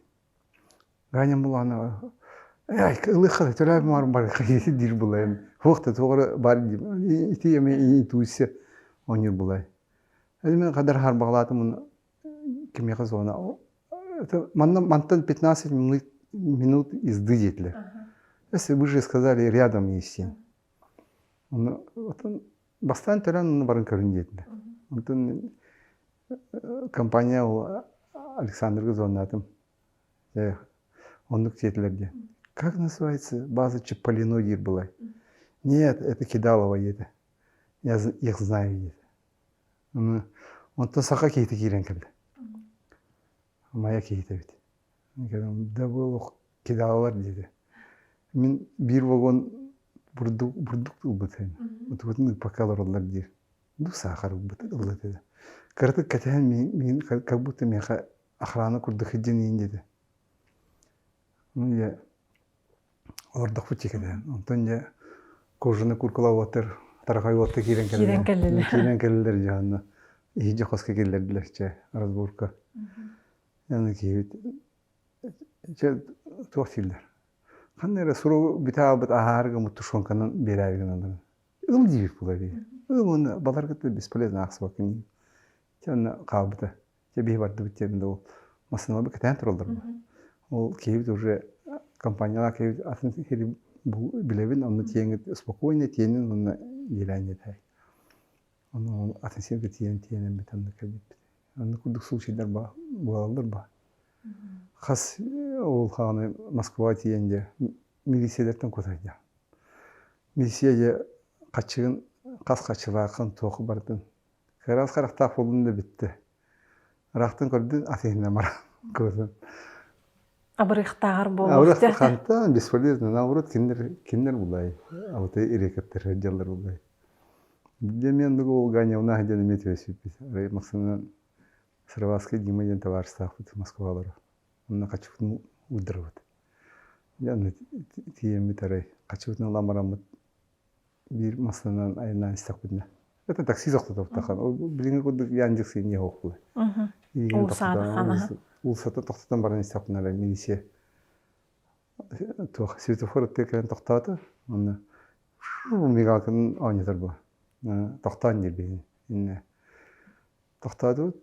Ганя Муланова ай ылыахха да төрөөбүт муҥарым барыахха диир булайым туох да туора баар дии ити эмиэ интуиция оонньуур булай эдэр мин хадар харбаҕалаатым кимиэхэ зона манна мантан пятнадцать минут езды диэтилэр если бы уже сказали рядом есть син ону Бастаан төрөөн аны баран көрүн диэтилэр. Онтон компания ол Александрга звоннаатым. Э, оннук диэтилэр диэн. Как называется база Чаполино диир былай. Нет, это Кидалово диэтэ. Я их знаю диэтэ. Онтон саха киһитэ киирэн кэлдэ. Майа киһитэ эбит. Да буолуох кидалалар диэтэ. Мин биир вагон бурдук бурдук ылбыт эм. Утубутун ыппакка олороллор диир. Дух саахар ылбыт ылбыт этэ. Кыратык кэтэһэн миин миин как будто миэхэ охрана курдук сыдьаныйын диэтэ. Ну я олордохпут дьикилээн онтон дьэ кожаный куркула уоттар тарахай уотта киирэн кэллилэр киирэн кэллилэр дьэ онно иһирдьэ хоско киллэрдилэр чэ разборка аны киһибит чэ туох дииллэр ханна эрэ суругу бүтэ хаалбыт аһаары гыммыт тушенканан биэрээри гыналлар ылым диибит була ыы ылымыны балар кытта бесполезно аахсыбаккын чэ онно хаалбыта Дьэ биһи бардыбыт диэн да ол массыыналарбыт кэтээн тураллар. Ол киһибит уже компаниялаах киһибит атын киһи бу билэбин, онно тиэҥит спокойно тиэнин уонна диэлээн иэтээй. Ону атын сиргэ тиийэн тиэнэммит онно кэлбиппит. Онно курдук случайдар буолаллар ба. Хас ол хааны Москваға тиийэн же милициялартан көтөрдө. Милиция же хачыгын хас хачылаақын тоқы бардын Кыра ас харахтаах буоллун да бүттэ. Ыраахтан көрдүн, ас иһинэ баран көрүн. Абырыахтааҕар буолуо. Абырыах хантан бесполезно. Наоборот, кинилэр кинилэр булай. А вот ирекоптер дьаллар булай. Для меня много Ганя у нас где иметь велосипед. Максимум Сарваская Дима ден товариществахпыт Москвалара. Онна качугну уддырбыт. Яны тиеммит арай качугну ламараммыт биир массыынанан айаннаан истэхпитинэ это такси тохтотоптахан ол билиҥҥи курдук ян дьиксин иһэ уохуй уулуссата тохтотон баран истэхпинэ эрэ милиция туох светофор өттүгэр кэлэн тохтоото онно мигалканы оонньотор буо тохтоон диэбиһин иннэ тохтоотубут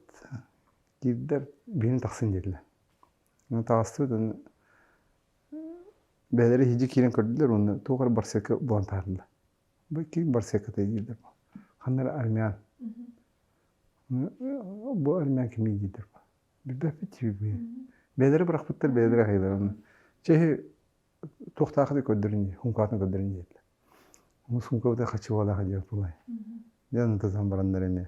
киирдэр биһин тахсын диэтилэр таҕыстыбыт уонна бэйэлэрэ иһирдьэ киирэн көрдүлэр уонна туох эрэ барсыакка булан таһаарда бу ким барсыаккатай диирдэр ханна эрэ армян бу армян кимий диирдэр билбэппит тиийбиппин бэйэлэрэ бырахпыттар бэйэлэрэ аһыылара чэйи туохтаахытый көрдөрүн дии сумкатын көрдөрүн диэтилэр сумка быта хачыгыалаах диэн тулай диэн ытытан бараннар эмиэ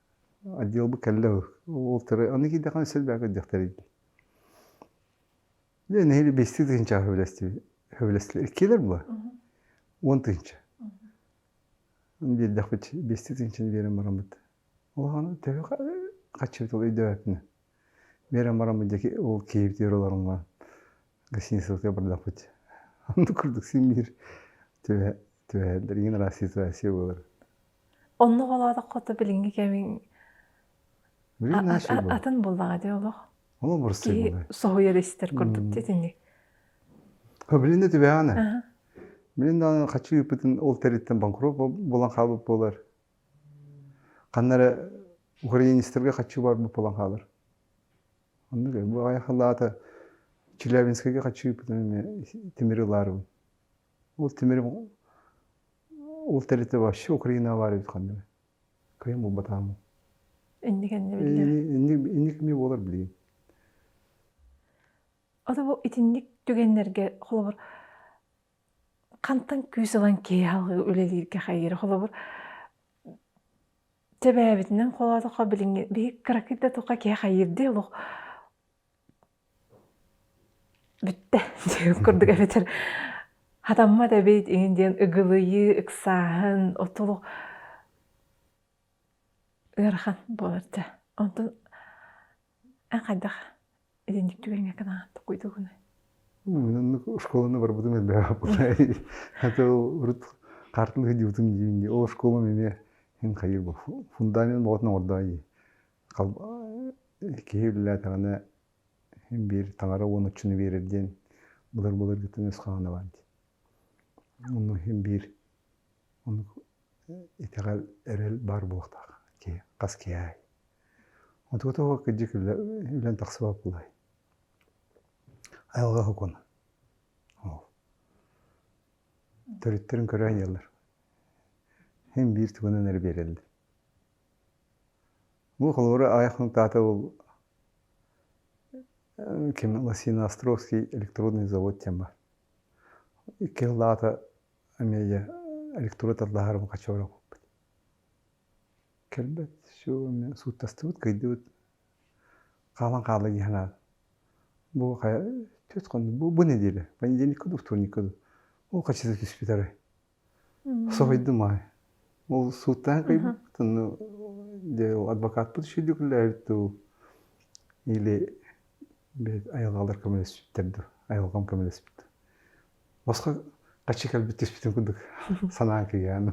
отделбы кэллэ ол аны киирдэххинэ силбээҕи диэхтэрий дьэ нэһиилэ биэстии тыһыынча хөбүлэстилэр иккиэлэр була уон тыһыынча биэрдэхпит биэстии тыһыынчаны биэрэн бараммыт улахан төһө хаччыбыт ол өйдөөбөтүнэ биэрэн бараммыт диэки ол киһибитигэр олоруҥман гостиницаларга бардахпыт аны курдук син биир түбэһэллэр иҥин араас ситуация буолар Онно олоотоххото билиҥҥи кэмин атын буоллаҕа дии олох. Ол бурсуй буоллай. Соһуйар истэр курдук итинник. Билинде түбэҕэне. Билин даҕаны хаччы ыыппытын ол тэриттэн банкрот булан хаалбыт буолар. Ханнары украинецтерге хаччы барбыт булан хаалар. Онда бу айахалаата Челябинскайга хаччы ыыппытын темир ылаарыбын. Ол тимирим ол тэрилтэ вообще Украина баар эбит ханна кыйам булбатаамын инникенни биллэр инник эмиэ буолар билигин ото бу итинник түгэннерге холобур хантан күүс ылан киэһалыы үлэлииргэ хайыра холобур тэбээбитинэн холоотохо билиҥҥи биһи кыракый да туха киһи хайырды олох Бүттэ диэх курдук эбэтэр хатаммат эбит ин диэн ыгылыйыы ыксааһын отолу ыарахан буолар дьэ онтон эн хайдах итинник түгэҥҥэ гынаат тугуйдугунуй Оннук оскуоланы барбытым элбэҕи аты урут картаны сылдьыбытым диибин дии ол оскуолам эмиэ эн хайыыр бу фундамент оҕотун оҥордоҕо дии киһи үлэлээтэҕинэ биир таҥара уон оччону биэрэр диэн былыр былыргыттан өс хаана баар дии ону биир ону итэҕэл эрэл баар буолуохтаах киһи хас киһи аай отугу тоҕо кырдьык үлэн тахсыбат буолуой айылҕа сокуона ол төрүттэрин көрө айаллар һин биир тугунан эрэ биэрэллэр Бу холобура аҕыйах нотаата ол ким Лосина Островский электродный завод диэн баар. Икки сыллаата эмиэ электрод аллаһарым хочоро укуппут. Кэлбэт все сууттастыбыт, кыйдыбыт. Хаалан хаала дии санаан. Бу хайа түс хонну бу бу неделя, понедельник куду, вторник куду. Ол хаччыта түспүт арай. Соһуйдум ол сууттаан кыйбыттын дьэ адвокатпыт сүйдүкүлээбит дуу или бэйт айылҕалар көмөлөспүттэр дуу айылҕам көмөлөспүт дуу босхо хаччы кэлбит түспүтүн курдук санаан кыйгаан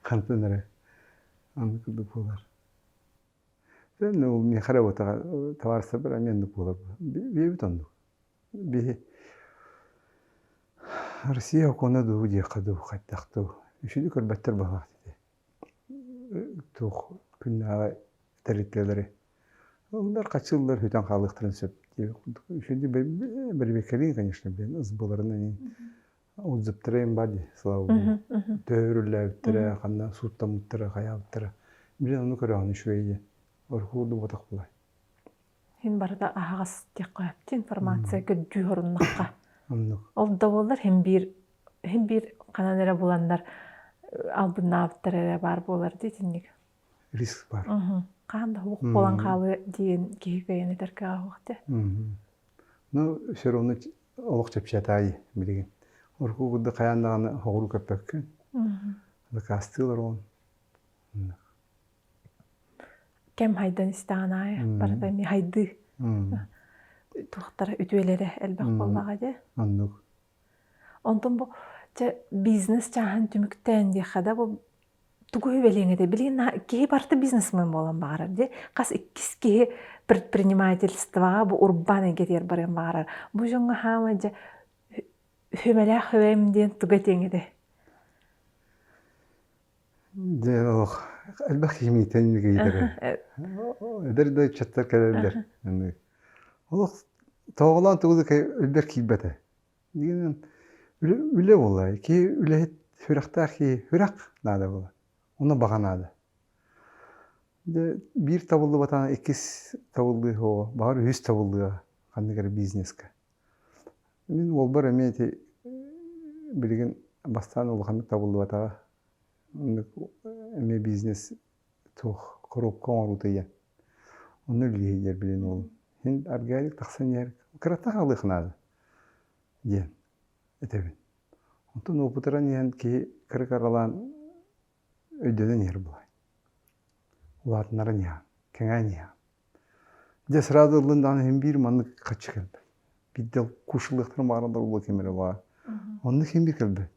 хантан эрэ аны курдук буолар ол миэхэ работаҕа табаарыстарбар эмиэ оннук буолар биэбит оннук Россия окуона дуу диэххэ дуу хайдах дуу үчүгэй көрбөттөр баҕалаах ити туох күннээҕи тэрилтэлэри олор хаччы сыллар сүтэн хаалыахтарын сөп бэрбиэкэлиин конечно блин сбыларынан отзывтара им бар дии слава богу төөһүрүллээбиттэрэ ханна сууттаммыттара хайаабыттара блин ону көрөҕүн үчүгэй диэн орку курдук буотах буолай Мин барыта аһаҕас диэххэ, информация көрдүү оруннахха. Ол да буоллар иһин биир иһин биир ханан эрэ буланнар албыннаабыттар эрэ баар буолар дии итинник. Риск бар. Хаһан да уһук буолан хаалыа диэн киһи кыайан этэргэ аһуох дэ. Ну все равно олох чэпчэтаи билигин. Орку курдук хайаан даҕаны хоҕуру көппөккүн. Дакаастыылар он. кэм хайдан истэҕин аайы барыта эмиэ хайдыы туохтара үтүөлэрэ элбэх буоллаҕа дии оннук онтон бу чэ бизнес чааһын түмүктээн диэххэ да бу тугу үбэлиэҥ этэй билигин киһи барыта бизнесмен буолан баҕарар дии хас иккис киһи предпринимательствоҕа бу урбаан эйгэтигэр барыан баҕарар бу дьоҥҥо хаамай дьэ хүмэлээх үбэм диэн туга этиэҥ этэй Дьэ ол элбэх кимиитин кийдэрэ эдэр да ыччаттар кэлэллэр олох тоҕолоон тугу да өлбөр киирбэтэ дигэнэн үлэ буолла киһи үлэһит сүрэхтээх киһи сүрэх наада буолла ону баҕа наада дьэ биир табыллыбатаҕына иккис табыллыа оҕо баҕар үһүс табыллыа ханнык эрэ бизнеска Мин уолбар эмиэ ити билигин бастаан улаханнык табыллыбатаҕа оннук эмиэ бизнес суох коробка оҥоруута диэн онно үлэлиһиилэр билигин уолум син органик тахсан иһэр кырата хаалыах наада диэн этэбин онтон уопутуран иһэн киһи кырык аралаан өйдөнөн иһэр буолуой улаатыннаран иһэҕин кэҥээн иһэҕин Дьэ сразу ыллын даҕаны иһин биир маннык хаччы кэлбэт. Биирдэ куушуллыахтара баара да буолуо ким эрэ баар. Оннук иһин би кэлбэт.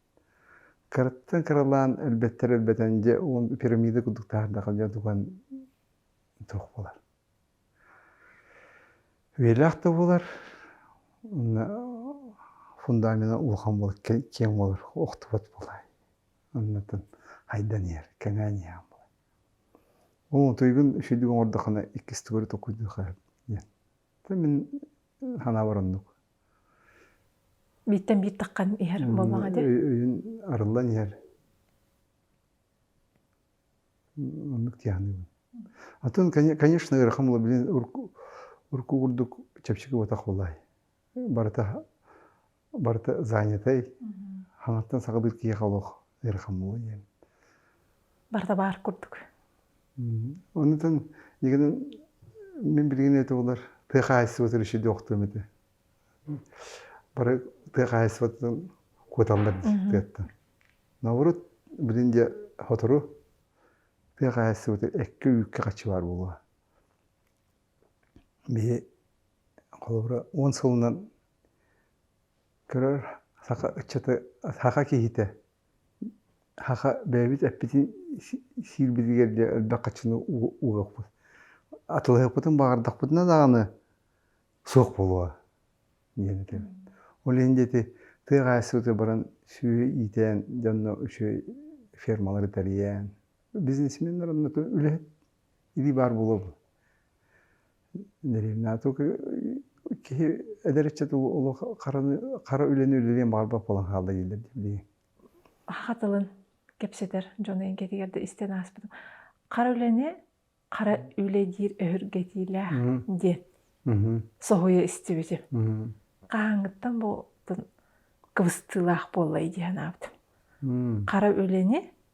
Кыраттан кыралаан өлбөттөр өлбөтөн дьэ уон пирамида курдук таһырдаха дьэ дуган туох буолар. Үйэлээх да буолар онно фундамена улахан буолар киэҥ буолар охтубат буолаай. Оннуттан хайдан иһэр кэҥээн иһэҕин буолай. Ол утуйгун үчүгэйдик оҥордоххуна иккистик өрө толкуйдуохха сөп диэн. Мин санаабар оннук. Бииртэн биир таххан иһэр буоллаҕа дии. Өйүн арыллан иһэр. Оннук тиһэҕниибин. Атын, конечно, ыарахан буолуо, билин урукку курдук чэпчэки уотах буолаай. Барыта барыта занятай хаҥаттан саҕалыыр киһиэхэ олох ыарахан буолуо диэн барда баар курдук оннутан дигэнин мин билигин эти олар тыа хаайсыбатын еще диохтуом эти бары тыа хаайсыбатын куоталлар тыаттан наоборот билин де хотору тыа хаайсыбаты экке үүкке хачыбаар буолуо биһи холобура он сылынан Көрөр саха ыччаты саха киһитэ саха бэйэбит эппитин сиирбитигэр диэ элбэх хаччыны угаппыт атылаһыахпытын баҕардахпытына даҕаны суох буолуо диэн этэбин ол иһин диэки тыа хаһаайыстыбатыгар баран сүөһү иитээн дьонно үчүгэй фермалары тэрийэн бизнесменнэр онно үлэһит илии баар буолуо буолуо киһи эдэр ыччат олох хара үлэни үлэлиэн баҕарбат буолан хаалла дииллэр дии хатылын кэпсэтэр дьону эҥкэтигэр да истэн ааспытым хара үлэни хара үлэ диир өһүргэтиилээх диэн соһуйа истибитим хаһааҥҥыттан бу кыбыстыылаах буоллай дии санаабытым хара үлэни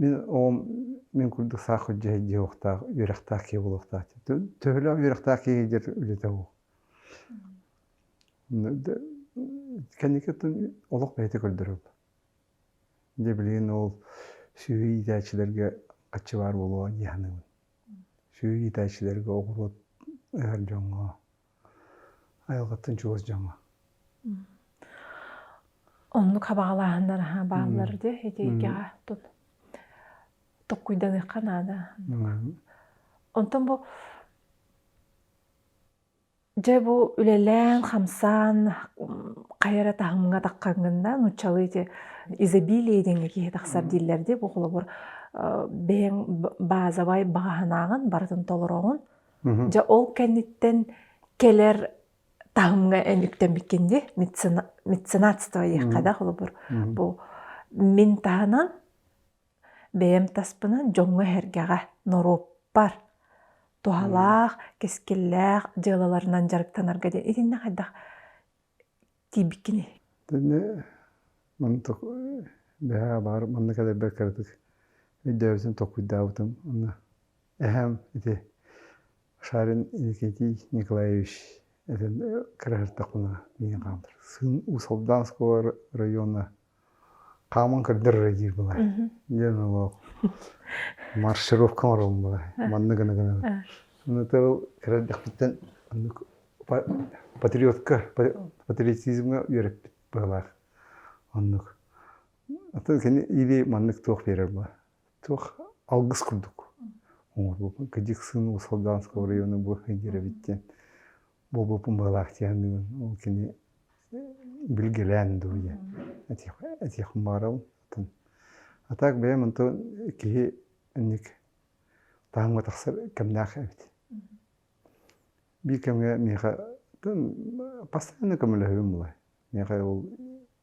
Мин оҕом мин курдук саах күдьэһэ диэхтээх үөрэхтээх киһи буолуохтаах төһөлөөх үөрэхтээх киһи дьэр үлэтэ уу кэнникиттэн олох бэйэтэ көрдөрөбүт дьэ билигин ол сүөһү иитээччилэргэ хаччыбаар буолуо дии саныыбын сүөһү иитээччилэргэ оҕуруот ыһар дьоҥҥо Айылҕаттан чугас дьоҥҥо. Оннук хабаҕалааһыннар аһа бааллар дии итигэҕэ тут токкуйданыахха наада. Онтон бу дьэ бу үлэлээн хамсаан хайа эрэ таһымҥа таххаҥҥына нууччалыы ити изобилие диэҥҥэ киһи тахсар дииллэр дии бу холобур бэйэҥ базовай баҕаһынааҕын барытын толороҕун Дьэ ол кэнниттэн кэлэр таһымҥа үктэммиккин дии меценатство эйиэхэ да холобур бу мин таһынан бэйэм таспынан дьоҥҥо эһэргэҕэ норуоппар туһалаах кэскиллээх дьыалаларынан дьарыктанарга диэн итиннэ хайдах тиийбит кини Тэнэ мантык бэһээ баар манна кэлэрбэр кыратык өйдөөбүтүм толкуйдаабытым уонна эһэм ити Шарин Иннокентий Николаевич этэн кыра сырдахпына миигин хаалдар сын Уус-Алдан оскуола района хааман көрдөрөрө диир былай диэн олох маршировка оҥороллубута манна гына гына ынытык эрэлдэхпиттэн патриотка патриотизмҥа үөрэппит быһылаах оннук аты кини или маннык туох биэрэр була туох алгыс курдук оҥорбуппун кыдьык сын усалдаанского района бу диэрэбит диэн буолбуппун балаахтианныгын ол кини билгилээн дуйа этих этих маралтын а так бэйэм онто киһи инник таһымга тахсар кэмнээх эбит биир кэмҥэ миэхэ постоянно көмөлөһүбүм буолай миэхэ ол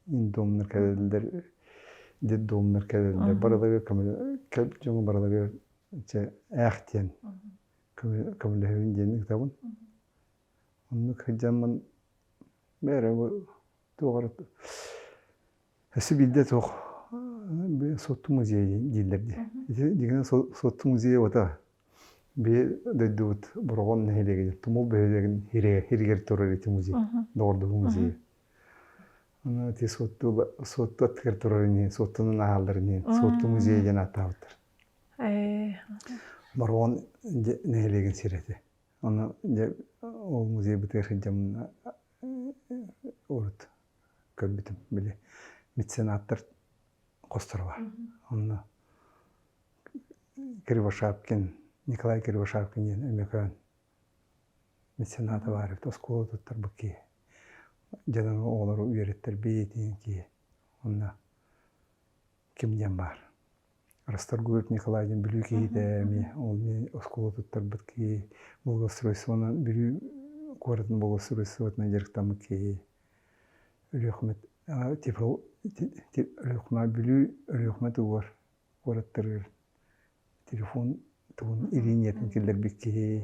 индомнар кэлэллэр детдомнар кэлэллэр барылагар көмөлө дьону барылагар дьэ ээхтиэн көмөлөһүбүн диэн ыытабын оннук сылдьаммын бэйэрэ туох эрэ өссө биирдэ туох суотту музей дииллэр дии дьиҥинэ суотту музей уота бии дойдубут Бороҕон нэһилиэгин Тумул бөһүөлэгин иһигэр турар ити музей доҕордоһуу музейа ити суотту суотту аттыгар турар ини суоттунан аһааллар ини суотту музей диэн ааттаабыттар Бороҕон нэһилиэгин сирэ этэ. Ону дьэ ол музей бытыгар сылдьаммына урут көрбүтүм били меценаттар хосторуба. Онно Кривошапкин, Николай Кривошапкин диэн Өмөкөөн мецената баар эбит. Оскуола туттарбыт киһи. Дьонуҥ оҕолору үөрэттэр бэйэтин киһи. Онно Ким диэн баар. Расторгует Николай диэн Бүлүү киһитэ эмиэ. Ол эмиэ оскуола туттарбыт киһи, благоустройствонан Бүлүү куоратын благоустройствотынан дьарыктаммыт киһи. Өлүөхүмэт Тифл Өлүөхүмэ Бүлүү Өлүөхүмэ тугугар куораттарыгар телефон тугун ириниятын киллэрбит киһи.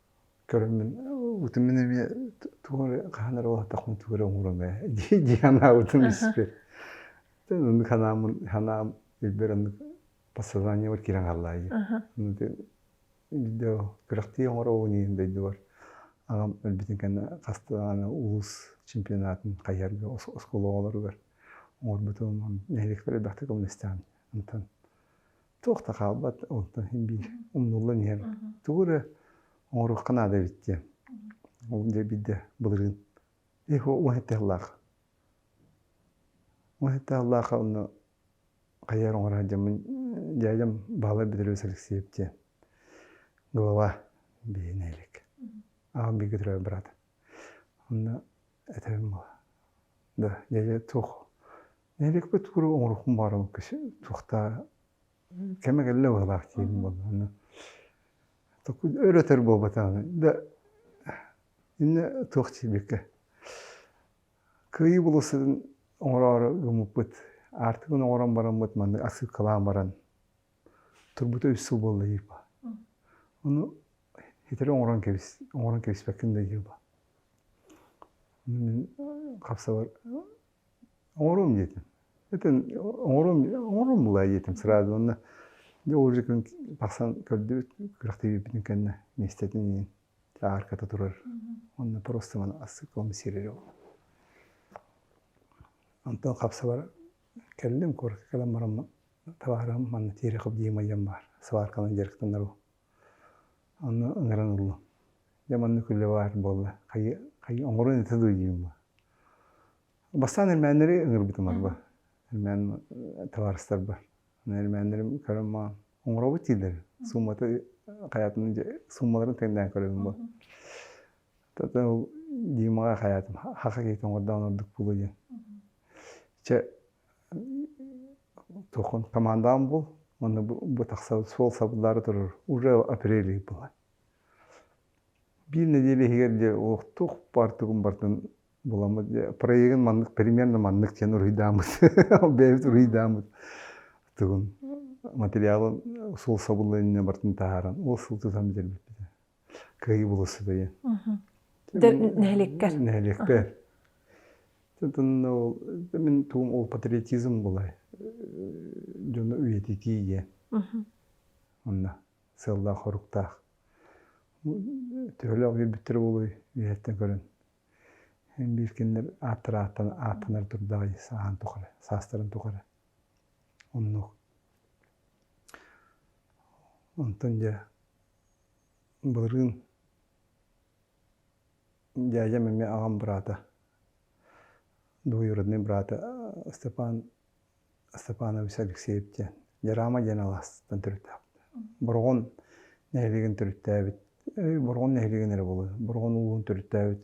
көрүммүн утуммун эмиэ тугу хаһан эрэ олоотохпун тугу эрэ оҥором ээ дии санаабытым испит оннук санааммын санаам билбэр оннук подсознаниебар киирэн хааллаайы видео күрэхтии оҥоробун иин дойдубар аҕам өлбүтүн кэннэ хастаана улуус чемпионатын хайыһарга оскуола оҕолоругар оҥорбутум нэһилиэкпэр элбэхтик көмөлөстөҕүм онтон Туох да хаалбат, онтон син биир умнуллан иһэбит. Тугу эрэ оҥоруохха наада эбит диэн. Ол дьэ биирдэ былырыын их уһette сыллаах. Уһette сыллаах онно хайар оҥоро сылдьаммын дядям Баһылай Бедрович Алексеев диэн глава биһинэ илик. Аҕам бииргэ төрөөбүт брат. Онно этэбин да дьэ туох нэһилиэкпит куруук оҥоруохпун баҕарабын туохтаа кэмэ кэллэ баҕалаах диибин буоллаҕына өлөтөр буолбатаҕына да иннэ туох диэбиккэ кыайыы болосун оҥороору гыммыппыт аартыгын оҥорон бараммыт маннык отсыпкалаан баран турбута үс сыл буолла диир ба ону хитри оҥорон кэбис оҥорон кэбиспэккин да диир ба хапсабай оҥоруом диэтим этэн оҥоруом оҥоруом буолаай диэтим сразу уонна дьэ ол же күн тахсан көрдүбүт күрэхтэһиибитин кэннэ миэстэтин иһин аарката турар уонна просто маны скоммуницировать буолла онтон хапсабар кэллим куоракка кэлэн баран табаарым манна тиэрэ хоп диэм айан баар сварканы дьарыктанарбын Онно ыҥыран ыллым. Дьэ маннык үлэ баар буолла. Хайы хайы оҥоруон этэ дуу диибин бу. Бастаан эрмээннэри ыҥырбытым арба. Эрмээн табаарыстарбар. Эрмээннэрим көрөн маҕан оҥоробут дииллэр. Сууммата хайаатым дьэ сууммаларын тэҥнээн көрөбүн бу. Тата ол Димаҕа хайаатым хаха киһитэ оҥордоҕун ордук буолуо диэн. Чэ тохон командаам буол уонна бу тахсан суол сабыллаары турар уже апрель ый буолар биир нэдиэлэ иһигэр дьэ уох туох баар тугун бартын буламмыт проегын маннык перемен да маннык диэн уруйдааммыт бэйэбит уруйдааммыт тугун материалын суол сабыллыан иннинэ бартын таһааран ол сыл тутан бүтэрбиппитэ Кыайыы болособуйа. Нэһилиэккэр. Нэһилиэкпэр. Тытынна ол мин туом ол патриотизм булай дьону үйэтитиигэ. Онна сыллаах хоруктаах. Түрөлөөх үйбүттэр болуй үйэттен көрөн. Биир кинилер ааттар ааттанар турдаҕай сааһан тухары, саастарын тухары. Оннук. Онтон дьэ Былырыын дядям эмиэ аҕам быраата двоюроднай быраата Степан Степанович Алексеев диэн Дьараама диэн алаастан төрүттээхпит Бороҕон нэһилиэгин төрүттээбит Бороҕон нэһилиэгин эрэ буолуо Бороҕон улууһун төрүттээбит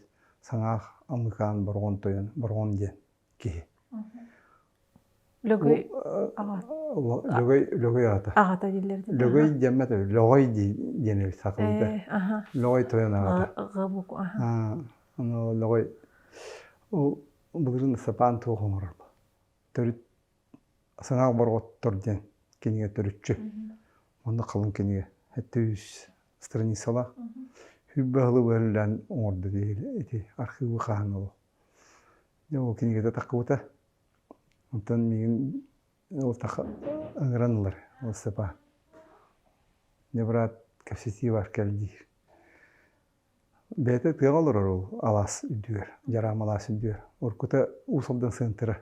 Саҥаах Амыкаан Бороҕон тойон Бороҕон диэн киһи. Лөгөй аҕата. Аҕата дииллэр. Лөгөй диэммэт Лөгөй диэн саталыыта. Лөгөй тойон аҕата. Габук, аха. Лөгөй ол былырын сапаан туох оҥорор. Төрүт саҥа борҕоттор диэн кинигэ төрүччү. Онно халыҥ кинигэ. Этэ үс страницалаах. Хүрбэ хылы бөллөн оҥордо ити архивы хаһан ол. Дьэ ол кинигэтэ таххыбыта. Оттон миигин ол таха ыҥыран ылар ол сыпа. Дьэ быраат кэпсэтии бар кэлдиир. Бэйэтэ тыаҕа олорор ол алаас үрдүгэр, Дьараам алаас үрдүгэр. Уруккута Уус Алдан сыантыра.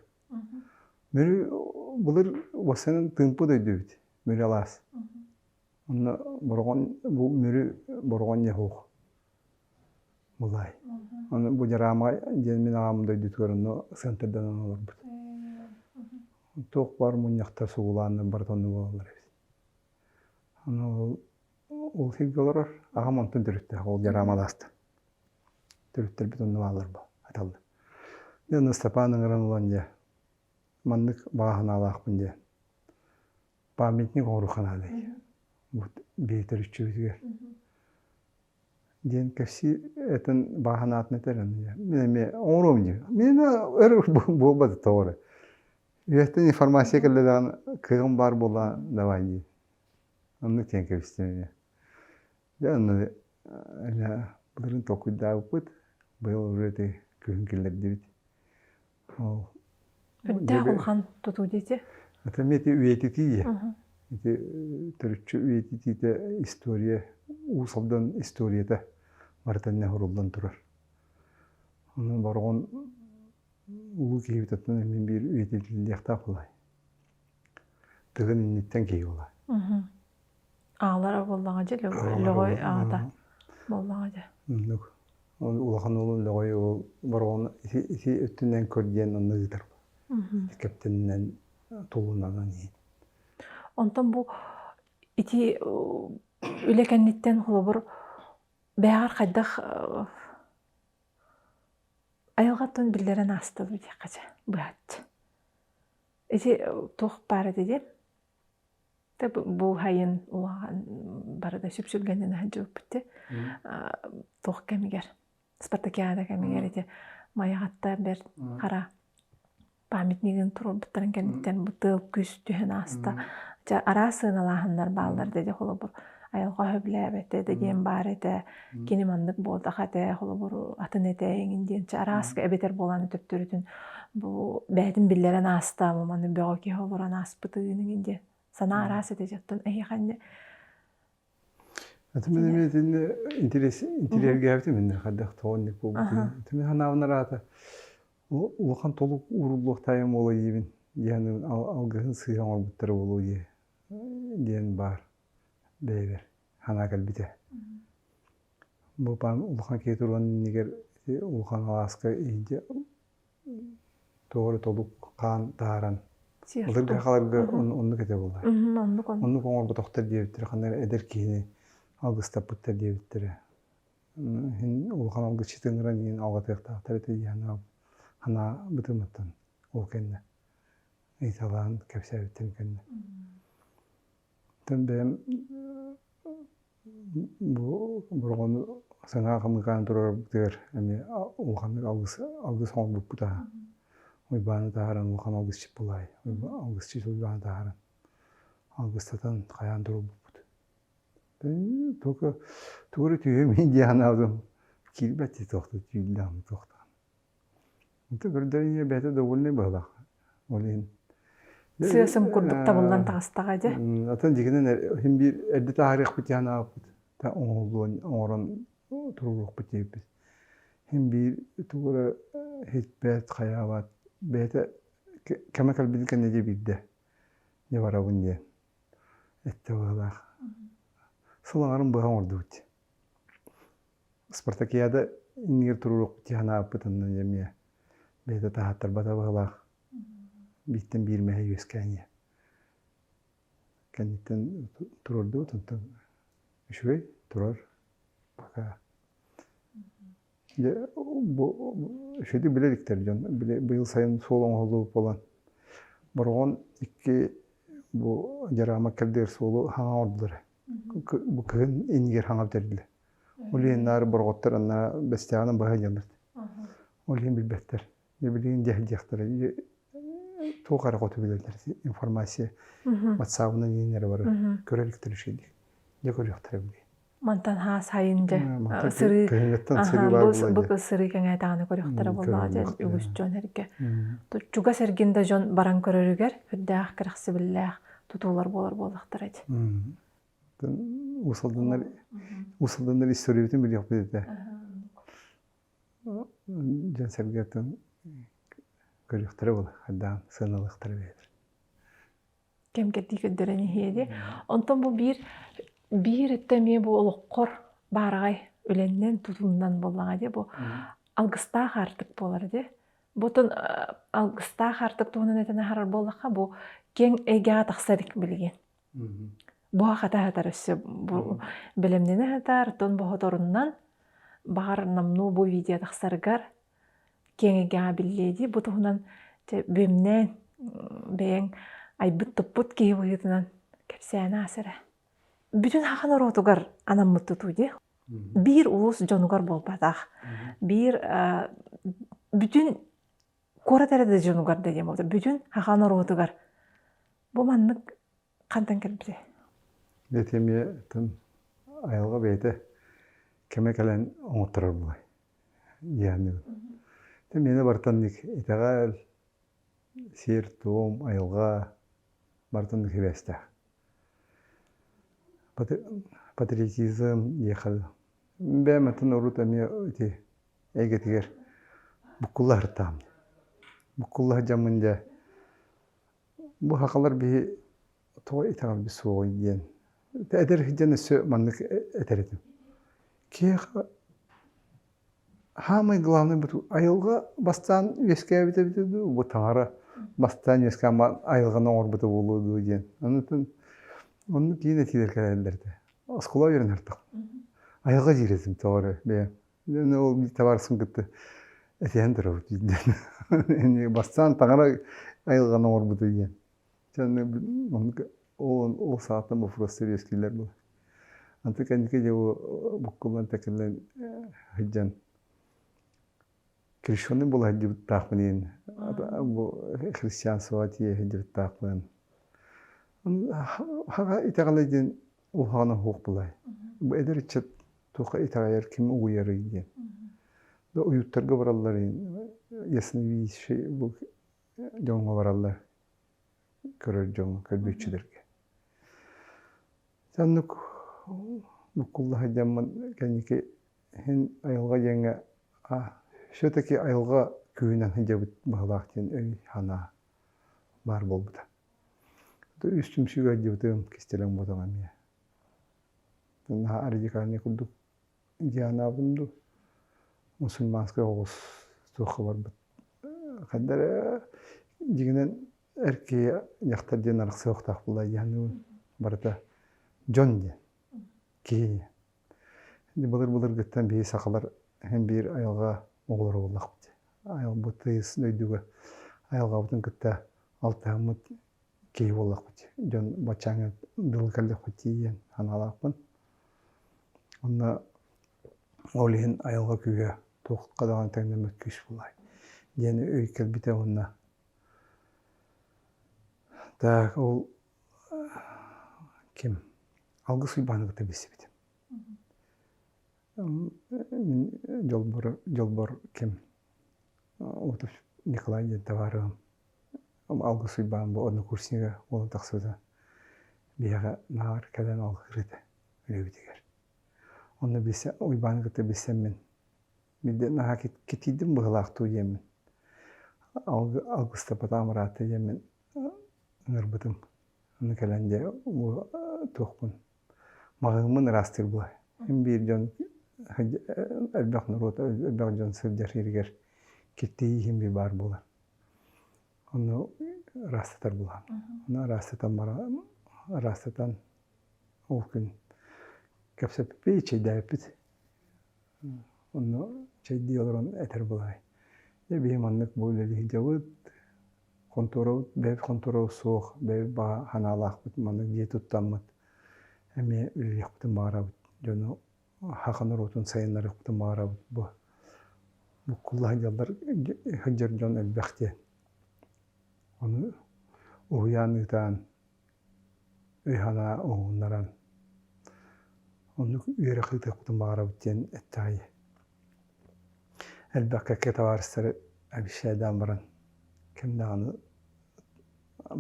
Мүрү былыр уоссанан тыымпы дойдубут, Мүрү алаас. Онно Бороҕон бу Мүрү Бороҕон дьаһуох. Былай, ону бу дьараама диэн мин аҕам дойдутугар ону центрданан олорбут. Туох баар мунньахтар сугулааннар барыта онно буолаллар эбит. Аны ол ол сиргэ олорор аҕам онтон төрүттээх ол дьараамалаастан. Төрүттэрбит онно бааллар бу аталлар. Дьэ аны Ыстапаан ыҥыран ылан дьэ маннык баҕа санаалаахпын диэн памятник орухан аанай вот бэйэтэр үччүбүтүгэр диэн кэпсии этин бааһын аатын этэрин мен эмиэ оҥоруом дии мен өр буолбат тоҕо эрэ үөттэн информация кэллэ даҕаны кыаҕым баар буолла давай дии онну тиэн кэбистим эмиэ дьэ аны былырын толкуйдаабыппыт быйыл уже ити күһүн киллэрдибит Өттөөх улахан тутуу диэти? Ата ити үйэтитииэ. Ити төрүччү үйэтитиитэ история, Уус Алдан историята барыта иннэ суруллан турар. Ону бороҕон улуу киһибит оттон мин биир үйэтитиллиэхтээх буолай. Тыгын инниттэн киһи буолай. аалара буоллаҕа дьэ лөҕөй аата буоллаҕа дьэ ол улахан уолу лөҕөй уол бороҕон ити өттүнэн көр диэн онно ыытар кэптэнинэн тулунанан иһин онтон бу ити үлэ кэнниттэн холобур бэйэҕэр хайдах айылҕаттан биллэрэн аастыбыт диэххэ дьэ быһаччы ити туох баар этэ диэн бууһайын улахан барыта сүпсүлгэнин сылдьыбыппыт туох кэмигэр спартакиада кэмигэр ити майаҕатта бэрт хара памятнигын туруорбуттарын кэнниттэн бу тыал күс түһэн ааста дьэ араас сыаналааһыннар бааллар да дьэ холобур айылҕа сөбүлээбэтэ да диэн баар этэ кини маннык буолтах этэ холобур атын этэ эҥин диэн чэ арааска эбэтэр буолааны төптөрүтүн бу бэйэтин биллэрэн ааста маманы бөҕө киһи олорон ааспытын эҥин диэн санаа араас этэ дьоттон эһиэхэнне Атымын эмиэтинне интерес интеллергээбитим инне хадах тоонник бугутун. Тими ханаавынар аата улахан толук ууруллуох тайым буола диибин. Яны алгыһын сыйан орбуттары болу диэн бар. бэйэбэр санаа кэлбитэ бу паан улахан киһи туруон иннигэр улахан алааска иһинчэ тоҕо эрэ толук хаан таһааран ытык да халарга оннук этэ буолар оннук оннук оҥорботохтор диэбиттэрэ ханна эрэ эдэр киһини алгыстаппыттар диэбиттэрэ иһин улахан алгысчыт ыҥыран иһин алгатыахтаахтар этэ дии санаа бытымыттан ол кэннэ ыйыталаан кэпсээбиттэн кэннэ бэйэм бу оборону саҥа хамыыкааны туруорарбытыгар эмиэ улаханнык алгыс алгыс оҥорбуппут аһа Уйбааны таһааран улахан алгысчыт булаай алгысчыт Уйбааны таһааран алгыстатан хайаан туруорбуппут только тугу эрэ түһүөмүй дии санаабытым киирбэт туохта түүллээх туохтаах Ити көрдөрүнэ бэйэтэ довольный баһылаах ол иһин сыасым курдук табыллан таҕыстаҕа дьэ атын дьикинэн иһин биир эрдэ таарыахпыт диэн аахпыт та оҥоһуллуон оҥорон туруоруохпут диэбиппит иһин биир тугу эрэ иһитпэт хайаабат бэйэтэ кэмэ кэлбитин кэннэ дьэ биирдэ дьэ барабын диэн эттэ баһылаах сыл аҥарын быһа оҥордубут Спартакиада иннигэр турурук дии санаабытынан эмиэ бэйэтэ таһааттарбата баһылаах бииртэн биир мэһэй үөскээниэ кэнниттэн туруордубут онтон үчүгэй турар пока дьэ бу үчүгэйдик билэ иликтэр дьон быйыл сайын суол оҥоһуллубут буолан Бороҕон икки бу дьараама кэрдиэр суолу хаҥаҕырдылар бу кыһын иннигэр хаҥап тэрдилэр Ол иһин наар бороҕоттор анна бэстээҕинэн быһа ыйаллар. Ол иһин билбэттэр. Билигин диэхтиэхтэрэ туох эрэ хоту билэллэр информация ватсаабынан ииннэрэ барар көрө иликтэр үчэйдик дьэ көрүөхтэрэ били мантан хаасайын дьэ сырыы бу сырыы кэҥээтэҕини көрүөхтэрэ боллоо дьэ үгүс дьон эргэ чугас эргин да дьон баран көрөрүгэр үрдээх кэрэхсибиллээх тутуулар буолар буоллахтар эти усалданнар усалданнар историябытын билиэхпит этэ дьон сэргэтин көрүөхтэрэ була хайдаан сыаналыахтара бэйэтэ кэмкэтии көрдөрөн иһиэди онтон бу биир биир өттө эмиэ бу олоххор баараҕай үлэннэн тутуннан буоллаҕа дии бу алгыстаах аартык буолар дии бу тон алгыстаах аартык туһунан этэн аһарар буоллахха бу кең эйгэҕэ тахсар билигин буһа хата сытар өссө бу бэлэмнэнэ сытар тон боһоторуннан баҕар намнуу бу видео тахсаргар киэҥэйгэҕэ биллиэ дии бу туһунан бүөмнээн бэйэҥ айбыт туппут киһи быһыытынан кэпсээн аас эрэ бүтүн хахан ороотугар анаммыт тутуу дии биир улус дьонугар буолбатах биир бүтүн куорат эрэ да дьонугар да диэн буолта бүтүн саха норуотугар бу маннык хантан кэлбитэ ити эмиэ айылҕа бэйэтэ кэмэ кэлэн оҥотторор буолай дьиэһиннигин ити миэнэ бартаннык итэҕэл сир туом айылҕа бартаннык сибээстээх патриотизм ехал бэйэм атын урут эмиэ ити эйгэтигэр буккуллаһартаам буккуллаһа дьэммин дьэ бу сахалар биһи тоҕо итэҕэлбит суоҕуй диэн эдэр дьон өссө маннык этэр этим киһиэхэ Саамай главный быту айылҕа бастаан үөскээбит эбитэ дуу, бу таҥара бастаан үөскээн баҕан айылҕаны оҥорбута буолуо дуу диэн. Онутун оннук киин этиилэр кэлэллэр этэ. Оскуола үөрэнэ ардах. Айылҕа дьиирэтим тоҕо эрэ бэйэм. Эн ол табаарыспын кытта этиһэн турабыт диэн. Бастаан таҥара айылҕаны оҥорбута диэн. ол саатан боппуруос сэбиэскийлэр буолар аны кэнники дьэ буккубан такилан сылдьан крещеный була сылдьыбыттаахпын иһин бу христианство тиийэ сылдьыбыттаахпын хаҕа итэҕэлэ диэн улахан оһуох булай бу эдэр ыччат туохха итэҕэйэр ким угуйарый диэн да уйуттарга бараллар иһин ясновидящий бу дьоҥҥо бараллар көрөр дьоҥҥо көрбүччүлэргэ Саннук Нукулла сылдьаммын кэнники иһин айылҕа диэҥҥэ все-таки айылҕа күүһүнэн сылдьабыт быһылаах диэн өй-санаа баар буолбута үс түмсүүгэ алдьабытым кистэлэҥ буотаҕа эмиэ наһаа радикальнай курдук Дианабын дуу, мусульманскай оҕус суохха барбыт. Ханна эрэ дьиҥинэн эр киһи дьахтар диэн арахсыахтаах буолла диэхинэбин барыта дьон диэн киһи былыр-былыргыттан биһи сахалар эн биир айылҕа оҕолоро буоллахпыт айылбыт тыйыс дойдуга айылҕабытын кытта алтыһаммыт киһи буоллахпыт дьон баччаҥы дылы көрдөхпүт тиийэн санаалаахпын онно ол иһин айылҕа күүһэ туохха даҕаны тэҥнэммэт күүс буолаай диэн өй кэлбитэ уонна так ол ким алгыс уйбааны кытта билсибитим дьолбор дьолбор ким николай диэн табаарыһым алгыс уйбаан бу однокурснига буола тахсыбыта биһиэхэ наҕар кэлэн алгыыр этэ үлэбитигэр онно билсэн уйбааны кытта билсэммин биирдэ наһаа кэтиирдим быһылаах дуу диэммин алгыстапатаҕым ыраатта диэммин ыҥырбытым аны кэлэн дьэ туохпун Маһыыммын ыраастыыр буолар. Эн биир дьон элбэх норуот, элбэх дьон сылдьар сиригэр киртийии иһин бир баар буолар. Ону ыраастатар буолаам. Ону ыраастатан бара ыраастатан ол күн кэпсэппиппит, чэйдээбиппит. Онно чэйдии олорон этэр буолаай. Дьэ биһи маннык бу үлэлии сылдьабыт. Хонтуруол бэйэбит хонтуруол суох, бэйэбит баҕа санаалаахпыт, маннык дьиэ туттаммыт эмиэ үлэлиэхпитин баҕарабыт. Дьону саха норуотун сайыннарыахпытын баҕарабыт бу буккулла сылдьаллар сылдьар дьон элбэх диэн. Ону уһуйаан ыытаан өй-санаа уһугуннаран оннук үөрэх ыытыахпытын баҕарабыт диэн эттэҕэй элбэххэ киһи табаарыстары обещайдаан баран ким даҕаны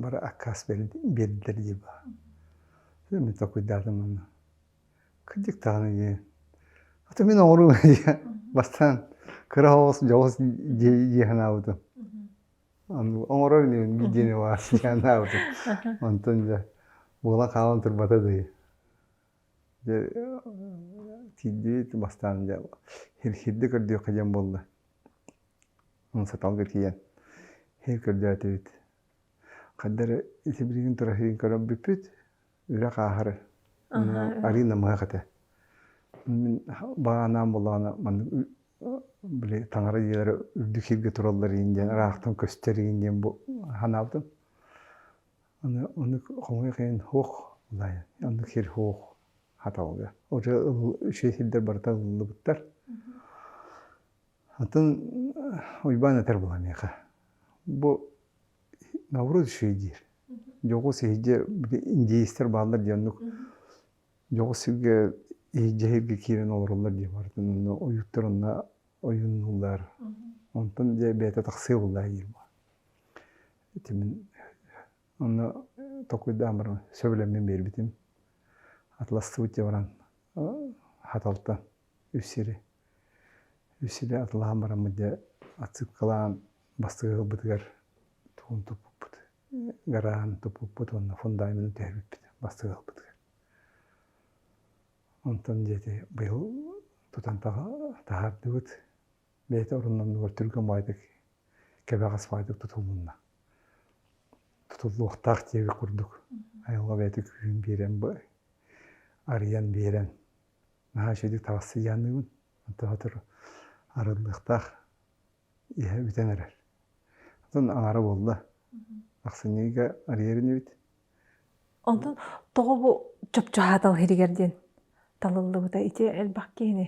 бары аккаас биэрдилэр дии мин толкуйдаатым ону кырдьык даҕаны диэн аты мин оҥоруум бастаан кыра оҕус дьоҕус дии санаабытым оҥорор инибин биир диэни баар сыдьааннаабытым онтон дьэ буолан хаалан турбата дии дьэ тиийдибит бастаан дьэ хирхирдик көрдүөххэ диэн буолла онон саталга тиийэн иһи көрдөөтүбүт хайда эрэ ити билигин тура иһин көрөн бүппүт үрэх ааһары Арина мыһах этэ мин баҕанаан буоллаҕына маннык били таҥара дьиэлэрэ үрдүк сиргэ тураллар иин диэн ыраахтан көстөр иин диэн бу санаабытым аны ону хомуйах иһин суох оннук сир суох хаталга уже ышей сирдэр барыта ылыллыбыттар атын Уйбаан этэр буолан миэхэ бу Новрут еще диир дьоҕус иһирдьэ индеецтэр бааллар диэн оннук дьоҕус сиргэ иһирдьэ сиргэ киирэн олороллор дии барытын онно ойууттар онно ойуннулар онтон дьэ бэйэтэ тахсыа буоллаа диир баа ити мин онно токуйдаан баран сөбүлэммин биэрбитим атластыбыт дьэ баран хаталта үс сири Үссэнэ атылаан бараммыт дьэ отсыпкалаан бастакы ылбытыгар тугун туппуппут гараһын туппуппут уонна фундаментын түһэрбиппит бастакы ылбытыгар. Онтон диэти быйыл тутан таһаардыбыт бэйэтэ оруннаннылар түргэн баайдык кэбэҕэс баайдык тутулунна. Тутуллуохтаах диэбит курдук айылҕа бэйэтэ күүһүн биэрэн арыйан биэрэн наһаа үчүгэй таҕыстыйаанныыбын онтон сотору арыллыахтаах иһэ бүтэн эрэр оттон аҥара буолла ахсынньыга арыйар инибит онтон тоҕо бу чопчу аһаатал иһигэр диэн талыллыбыта ити элбэх киһини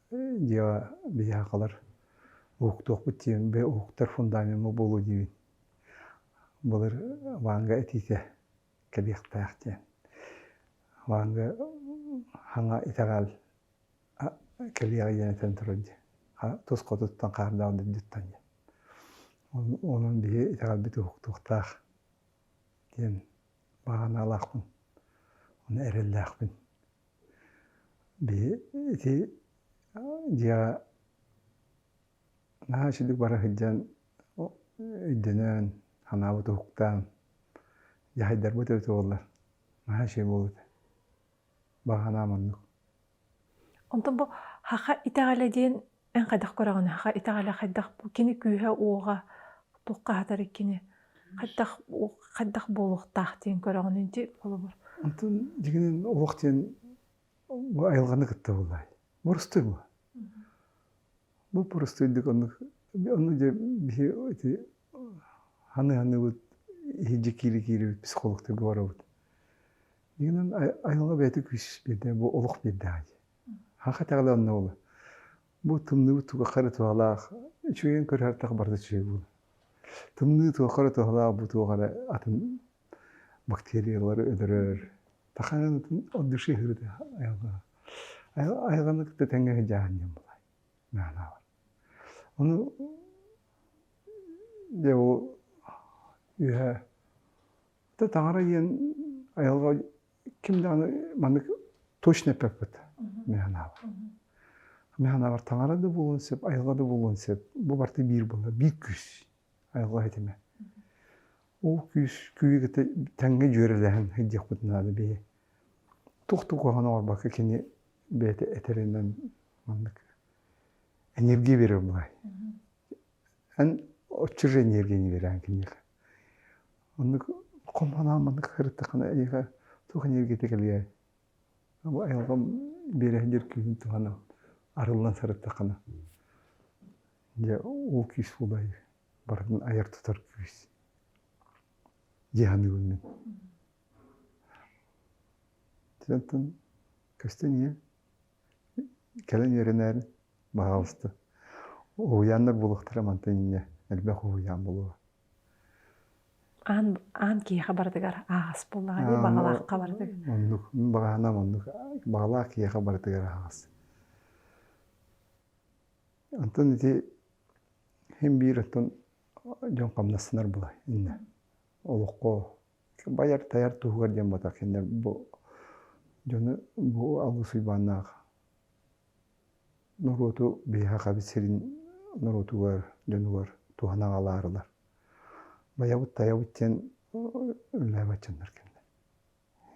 дьиэҕэ биһиэхэлэр уһуктуохпут диэн уһуктар фундамеҥҥа буолуо диибин былыр ванга итиитэ кэлиэхтээх диэн ванга хаҥа итэҕэл кэлиэҕи диэн этэн турар дии тус хотуттан хаардаах дүрдүттэн диэн онон биһи итэҕэлбит уһуктуохтаах диэн баҕаналаахпын уонна эрэллээхпин Ити дьиэҕэ наһаа үчүгэй бара сылдьан өйдөнөн, санаабыт уһуктан, дьаһайдарбыт эбит буоллар наһаа үчүгэй буолбута баҕа санаам оннук. Онтон бу саха итэҕэлэ диэн Эн хайдах көрөҕүн, ха итэҕэлэ хайдах кини күүһэ-уоҕа туох хаһатар кини хайдах хайдах буолуохтаах диэн көрөҕүн ити холобур. Онтон дьиҥинэн уох диэн бу айылҕаны кытта буолаай? Бурустуй бу. Бу бурустуйдук оннук онно дьэ биһи ити ханы-ханыыбыт иһирдьэ киирэ-киирибит психологтарга барабыт. Дьиҥинэн айылҕа бэйэтэ күүс биэрдэ, бу олох биэрдэҕэ дии. Аха итэҕэл онно буолла. Бу тымныы туохха эрэ туһалаах, үчүгэйин көрөр барыта үчүгэй буолла. Тымныы туохха эрэ туһалаах, бу туох эрэ атын бактериялар өлөрөр. Таханан от души хырыты айылгана. Айылганы кытта тэҥҥэ дьаһанньан булай. Мәһалаабар. Ону дьэ ол үһэ. Та таҥара диэн айылҕа ким даҕаны маннык точно эппэппит механабар механабар таҥара да буолуон сөп айылҕа да буолуон сөп бу барыта биир буолла биир күүс айылҕа этимэ ол күүс күүйү кытта тэҥҥэ дьүөрэлэһэн сылдьыахпыт наада бэйи туох да куһаҕан оҥорбокко кини бэйэтэ этэринэн маннык энергия берер былай эн оччо же энергияны берээн киниэхэ Оннук хомоноон маннык сырыттаххына эйиэхэ туох эниэргийэтэ кэлиэй. Бу айылҕам биэрэ сылдьар күүһүн туһанан арыллан сырыттаххына дьэ ол күүс буолай барытын айар-тутар күүс дии саныыбын мин. Оттон көстөн ийэ Кэлэн үөрэнээри баҕаалыста уһуйааннар буолуохтара мантан инньэ элбэх уһуйаан буолуо аан аан киһиэхэ барытыгар аһаҕас буоллаҕа дии баҕалаахха барытыгар оннук баҕаһаам оннук баҕалаах киһиэхэ барытыгар аһаҕас онтон ити син биир оттон дьон хамнассынар була иннэ олоххо байар-тайар туһугар диэн ботоксиннар бу дьону бу алгыс уйбааннаах норуоту биһиэхэ хабит сирин норуотугар дьонугар туһана аҕалаарылар байабыт тайабыт диэн үллээбэччэннэр кэннэ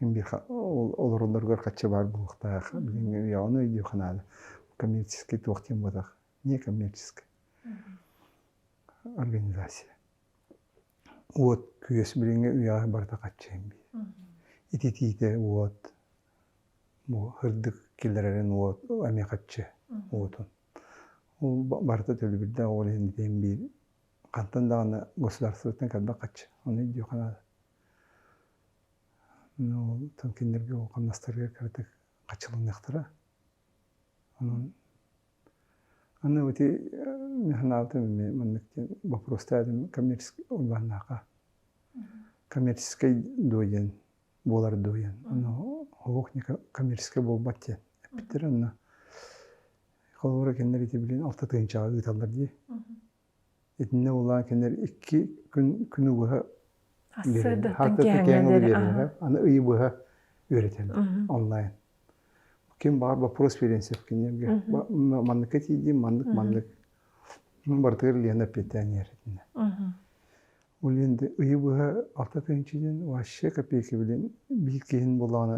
им биир олороллоругар хаччы баар буолуохтаах билиҥҥи үйэҕэ өйдүөх наада коммерческий туох диэн ботах не коммерческая организация уот күөс билиҥҥи үйэҕэ барыта хаччыйан биэр ититиитэ уот бу һырдык киллэрэрин уот эмиэ хаччы уотун ол барыта төлөбүрдээх ол иһин итиэн биир хантан даҕаны государствотыттан кэлбэт хаччы ону өйдүөх наада ол там кинилэргэ хамнастарыгар кыратык хаччыланыахтара онон Аны ити санаабытым маннык диэн боппуруостаах этим коммерческай урбааннааха коммерческай дуо диэн буолар дуо диэн ону оһуох не коммерческай буолбат диэн эппиттэр онно холобура кинилэр ити билигин алта тыһыынчаҕа ыыталлар дии Итиннэ улаан кинилэр икки күн күнү быһа үөрэтэн аны ыйы быһа үөрэтэн онлайн ким баҕар боппуруос биэриэн сөп кинилэргэ маннык тиийдим маннык маннык барытыгар Лена эппиэттээн иһэр ол енді ыйы быһа алта тыһыынчанан вообще копейки билин биир киһин булаҕына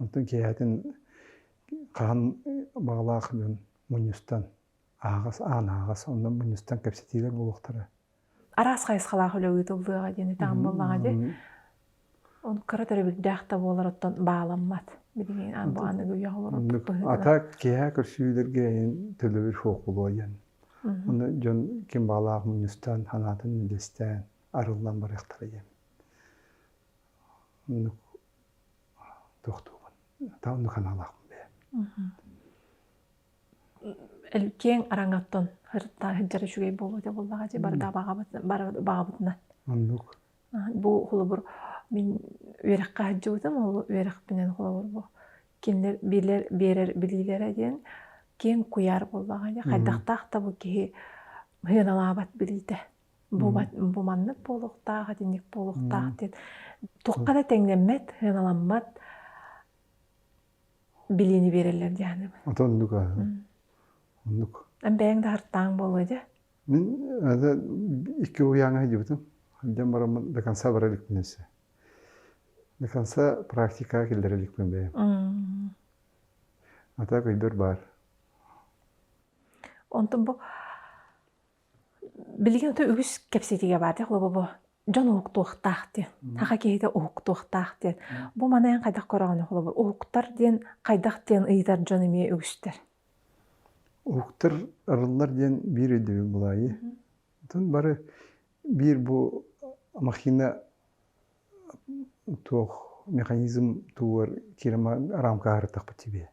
Онтон киэһэтин хаһан баҕалаах дьон мунньустан аһаҕас аан аһаҕас онно мунньустан кэпсэтиилэр буолуохтара. Араас хайысхалаах үлэ ыытыллыаҕа диэни таан буоллаҕа дии. Ону кыра төрөбүрдээх да буолар оттон бааламмат. Билигин аан бу аныгы үйэҕэ олорор Ата киэһэ көрсүһүүлэргэ төлөбүр фокулуойан. Онно дьон ким баалаах мунньустан санаатын үллэстээн арыллан барыахтара диэн. тохтуубун та онно ханаалаахпын бэйэ киэҥ араҥаттан сырыттаа сылдьар үчүгэй буолуо этэ буоллаҕа дии барыта баҕабытынан оннук бу холобур мин үөрэххэ сылдьыбытым ол үөрэхпинэн холобур бу кинилэр билэр биэрэр билиилэрэ диэн киэҥ куйаар буоллаҕа дии хайдахтаах да бу киһи сыаналаабат билиитэ бу маннык буолуохтаах итинник буолуохтаах диэн туохха да тэҥнэммэт сыаналаммат билиини биэрэллэр диэхэни от оннук оннук бэйэҥ да хартаан буолуо дьэ мин икки уйааҥа сылдьыбытым дьон бараммын до конца бара иликпин өссө до конца практикаҕа киллэрэ иликпин бэйэм а так өйбөр баар онтон бу билигин ото үгүс кэпсэтиигэ баатар лобобо дьон уһуктуохтаах диэн саха киһитэ уһуктуохтаах диэн бу маны эн хайдах көрөҕүнүй холобур уһуктар диэн хайдах диэн ыйытар дьон эмиэ үгүстэр уһуктар арыллар диэн биир өйдөбүл буолаайы отон бары биир бу махина туох механизм тугугар киирэ рамкаһарытахпыт сибиэ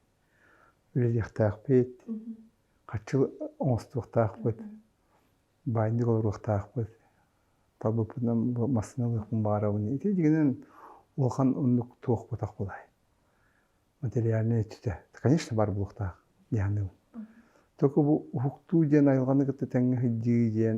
үлэлиэхтээхпит хаччыл оҥостуохтаахпыт, баайдык олоруохтаахпыт, талбыппытынан массыына ылыахпын баҕарабын. Ити дьигинэн улахан оннук туохпутах булай. Материальнай өттүтэ, конечно, бар булуохтаах дии саныыбын. Только бу уһуктуу диэн айылҕаны кытта тэҥҥэ сылдьыы диэн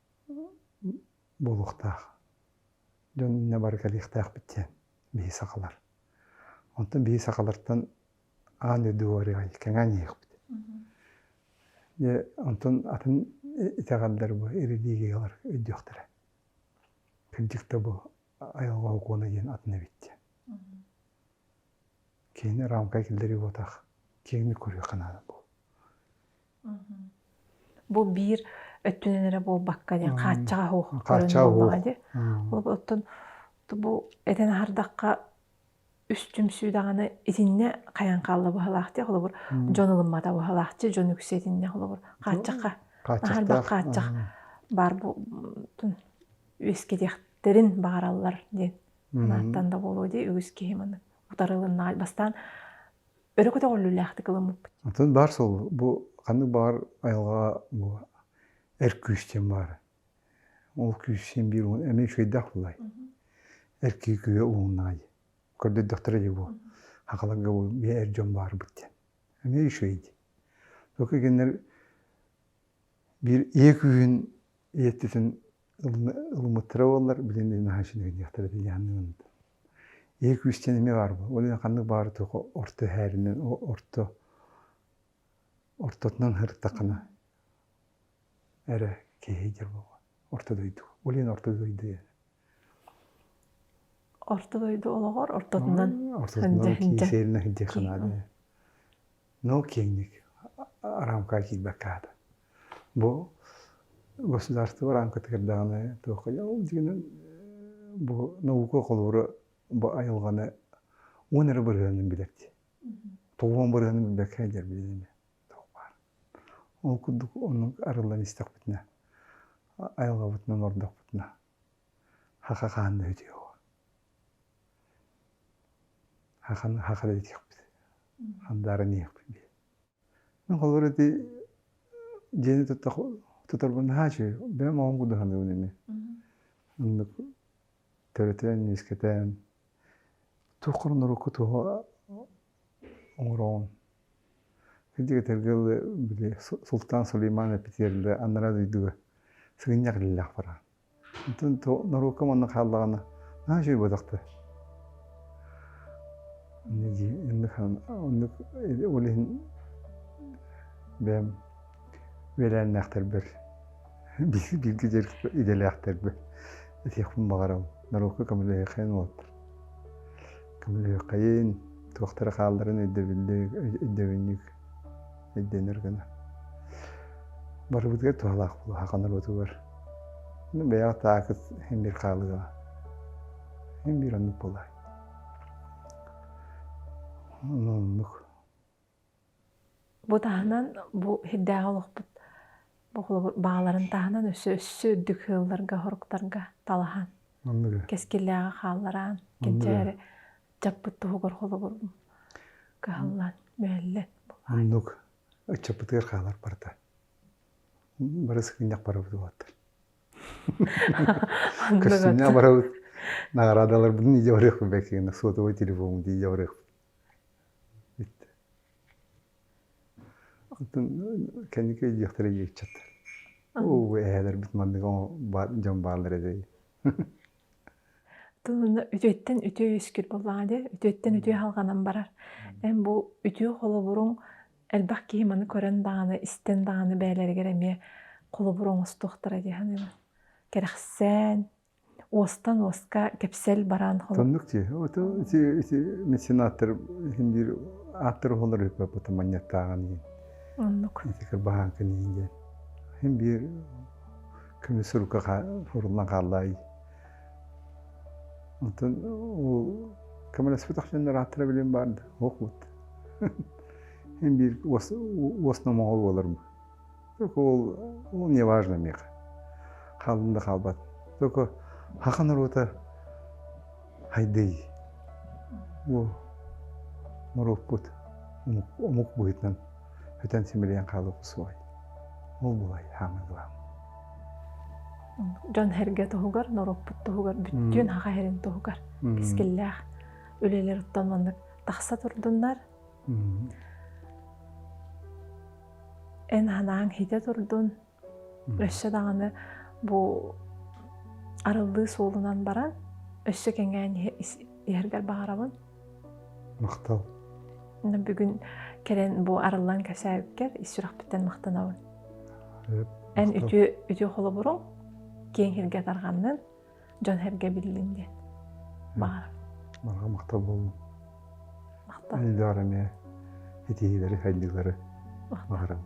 буолуохтаах. Дьон иннэ бары кэлиэхтээхпит диэн биһи сахалар. Онтон биһи сахалартан аан дойду уоруйа кэҥээн иһиэхпит. Дьэ, онтон атын итэҕэллэр бу ирилиигигалар өйдүөхтэрэ. Кырдьык да бу айылҕа окуона диэн атын эбит диэн. Киһини рамкай киллэрии буотаах киэҥник көрүөххэ наада бу. Бу биир өттүнэн эрэ буолбакка диэн хааччаҕа оһуох көрүн буоллаҕа дии. Оттон бу этэн аһардахха үс түмсүү даҕаны итиннэ хайан хаалла быһалаах дии холобур дьон ылыммата быһалаахчы дьон үксэ итиннэ холобур хааччахха аһардах хааччах баар үөскэтиэхтэрин баҕараллар диэн анааттан да буолуо дии үгүс киһи маны утары ылыннаҕа бастаан өрө көтөҕүллүүлээхтик ыламмыппыт. Атын баар суол бу ханнык баҕар айылҕаҕа бу эр күүс диэн баар. Ол күүс син биир уун эмиэ үчүгэйдээх тулай. Эр киһи күһэ ууннаҕай. Көрдөрдөхтөрө дии бу. Хахаларга бу эр дьон баарбыт диэн. Эмиэ үчүгэй дии. Только эгеннэр Биир ийэ күүһүн ийэттитин ылыммыттара буоллар, билигин наһаа үчүгэйдиэхтэрэ дии дьаһанным Ийэ күүстээн эмиэ баар буолуо. Ол иһин ханнык баары туох орто эһээринэн, орто ортотунан сырыттаххына эрэ киэһэйдэр буолуо. Орто дойду. Ол иһин орто дойду орто дойду олоҕор ортотунан но киэҥник рамкаҕа киирбэккэ аата бу государство рамкатыгар даҕаны туохха ол дьиҥинэн бу наука холобура бу айылҕаны уон эрэ бырыһыанын билэр дии тоҕуон бырыһыанын билбэккэ сылдьар билинэ туох баар ол курдук оннук арыллан истэхпитинэ айылҕабытын олордохпутуна хаха хаанна үтүө уо хаханы хаха да итиэхпит хандааран иһиэхпит дии ну холобур ити дьиэни тута туторбун наһаачы бэйэм оҕом кудаһаныыбын ини оннук төрөтөн үөскэтэн туох көрүн урукку туһу оҥороҕун ити кэтэргилы били султан сулейман эпитиэрли аннара дойдуга сыгынньах иллэхпара онтон норуокка манна хааллаҕына наһаа чуйбатахта оннук ол иһин бэйэм үөлээннээхтэрбэр бииргэ идэлээхтэрбэр этиэхпин баҕарабын норуокка көмөлөһүөххэйин уолаттар көмөлөһүөххэйин туохтара хаалларын өйдөбүллүк өйдөбүнньүк өйдөнөр гына барыбытыгар туһалаах буолуо аха норуотугар бэйэҕэ таакыс һин биир хаалыга һин биир оннук буолаай оннук Бу таһынан бу сирдээҕи олохпут бохолобур бааларын таһынан өссө өссө үрдүк ыалларга, соруктарга талаһан манныгы кэскиллээҕи хааллараан кинчээри ыччаппыт туһугар холобур кыһаллан мүһэллэн булаай. Оннук ыччаппытыгар хаалар барыта. Бары сыгынньах барабыт уолаттар. Көрсүннэ барабыт. Наҕараадаларбытын идэ барыахпыт бэки гына сотовый телефоммут идэ барыахпыт. Оттон кэнники диэхтэрэ диэччэт оо эһээлэрбит маннык дьон бааллар этэй тылына үтүөттэн үтүө үөскүүр буоллаҕа дии үтүөттэн үтүө аһылҕанан барар эн бу үтүө холобуруҥ элбэх киһи маны көрөн даҕаны истэн даҕаны бэйэлэригэр эмиэ холобур оҥостуохтара дии саныыбын кэрэхсээн уостан уоска кэпсэл бараан хонук меценаттар биир аттар оһолор ыппыта манньаттааҕын иһин оннук итикер баһааҥкын иһин диэн хин биир көмүс сурукка фуруллан хааллаай онтон ол көмөлөспүт ахсыннар аттара билим баарда охут хин биир уос номоҕол буолар ол неважно мех хаалын да хаалбат только хаха норуота хайдый бу норуоппут омук быһыытынан өтөн симэлийэн хаалыа суоҕай ол булай хаамыы главное дьон эргэ туһугар норуоппут туһугар бүттүүн хаха эрин туһугар кискиллээх үлэлэр оттон маннык тахса турдуннар Эн анаан иһитэ турдун, өссө даҕаны бу арыллыы суолунан баран, өссө кэҥээн иһэргэр баҕарабын. Махтал. Бүгүн кэлэн бу арыллан кэсээбиккэр ис сүрэхпиттэн махтанабын. Эн үтүө холобуруҥ киэҥ иһиргэ тарҕаннын. дьон-сэргэ биллин диэн баҕарабын манга махталбын айдаары эмиэ ситиһиилэри сайдыылары баҕарабын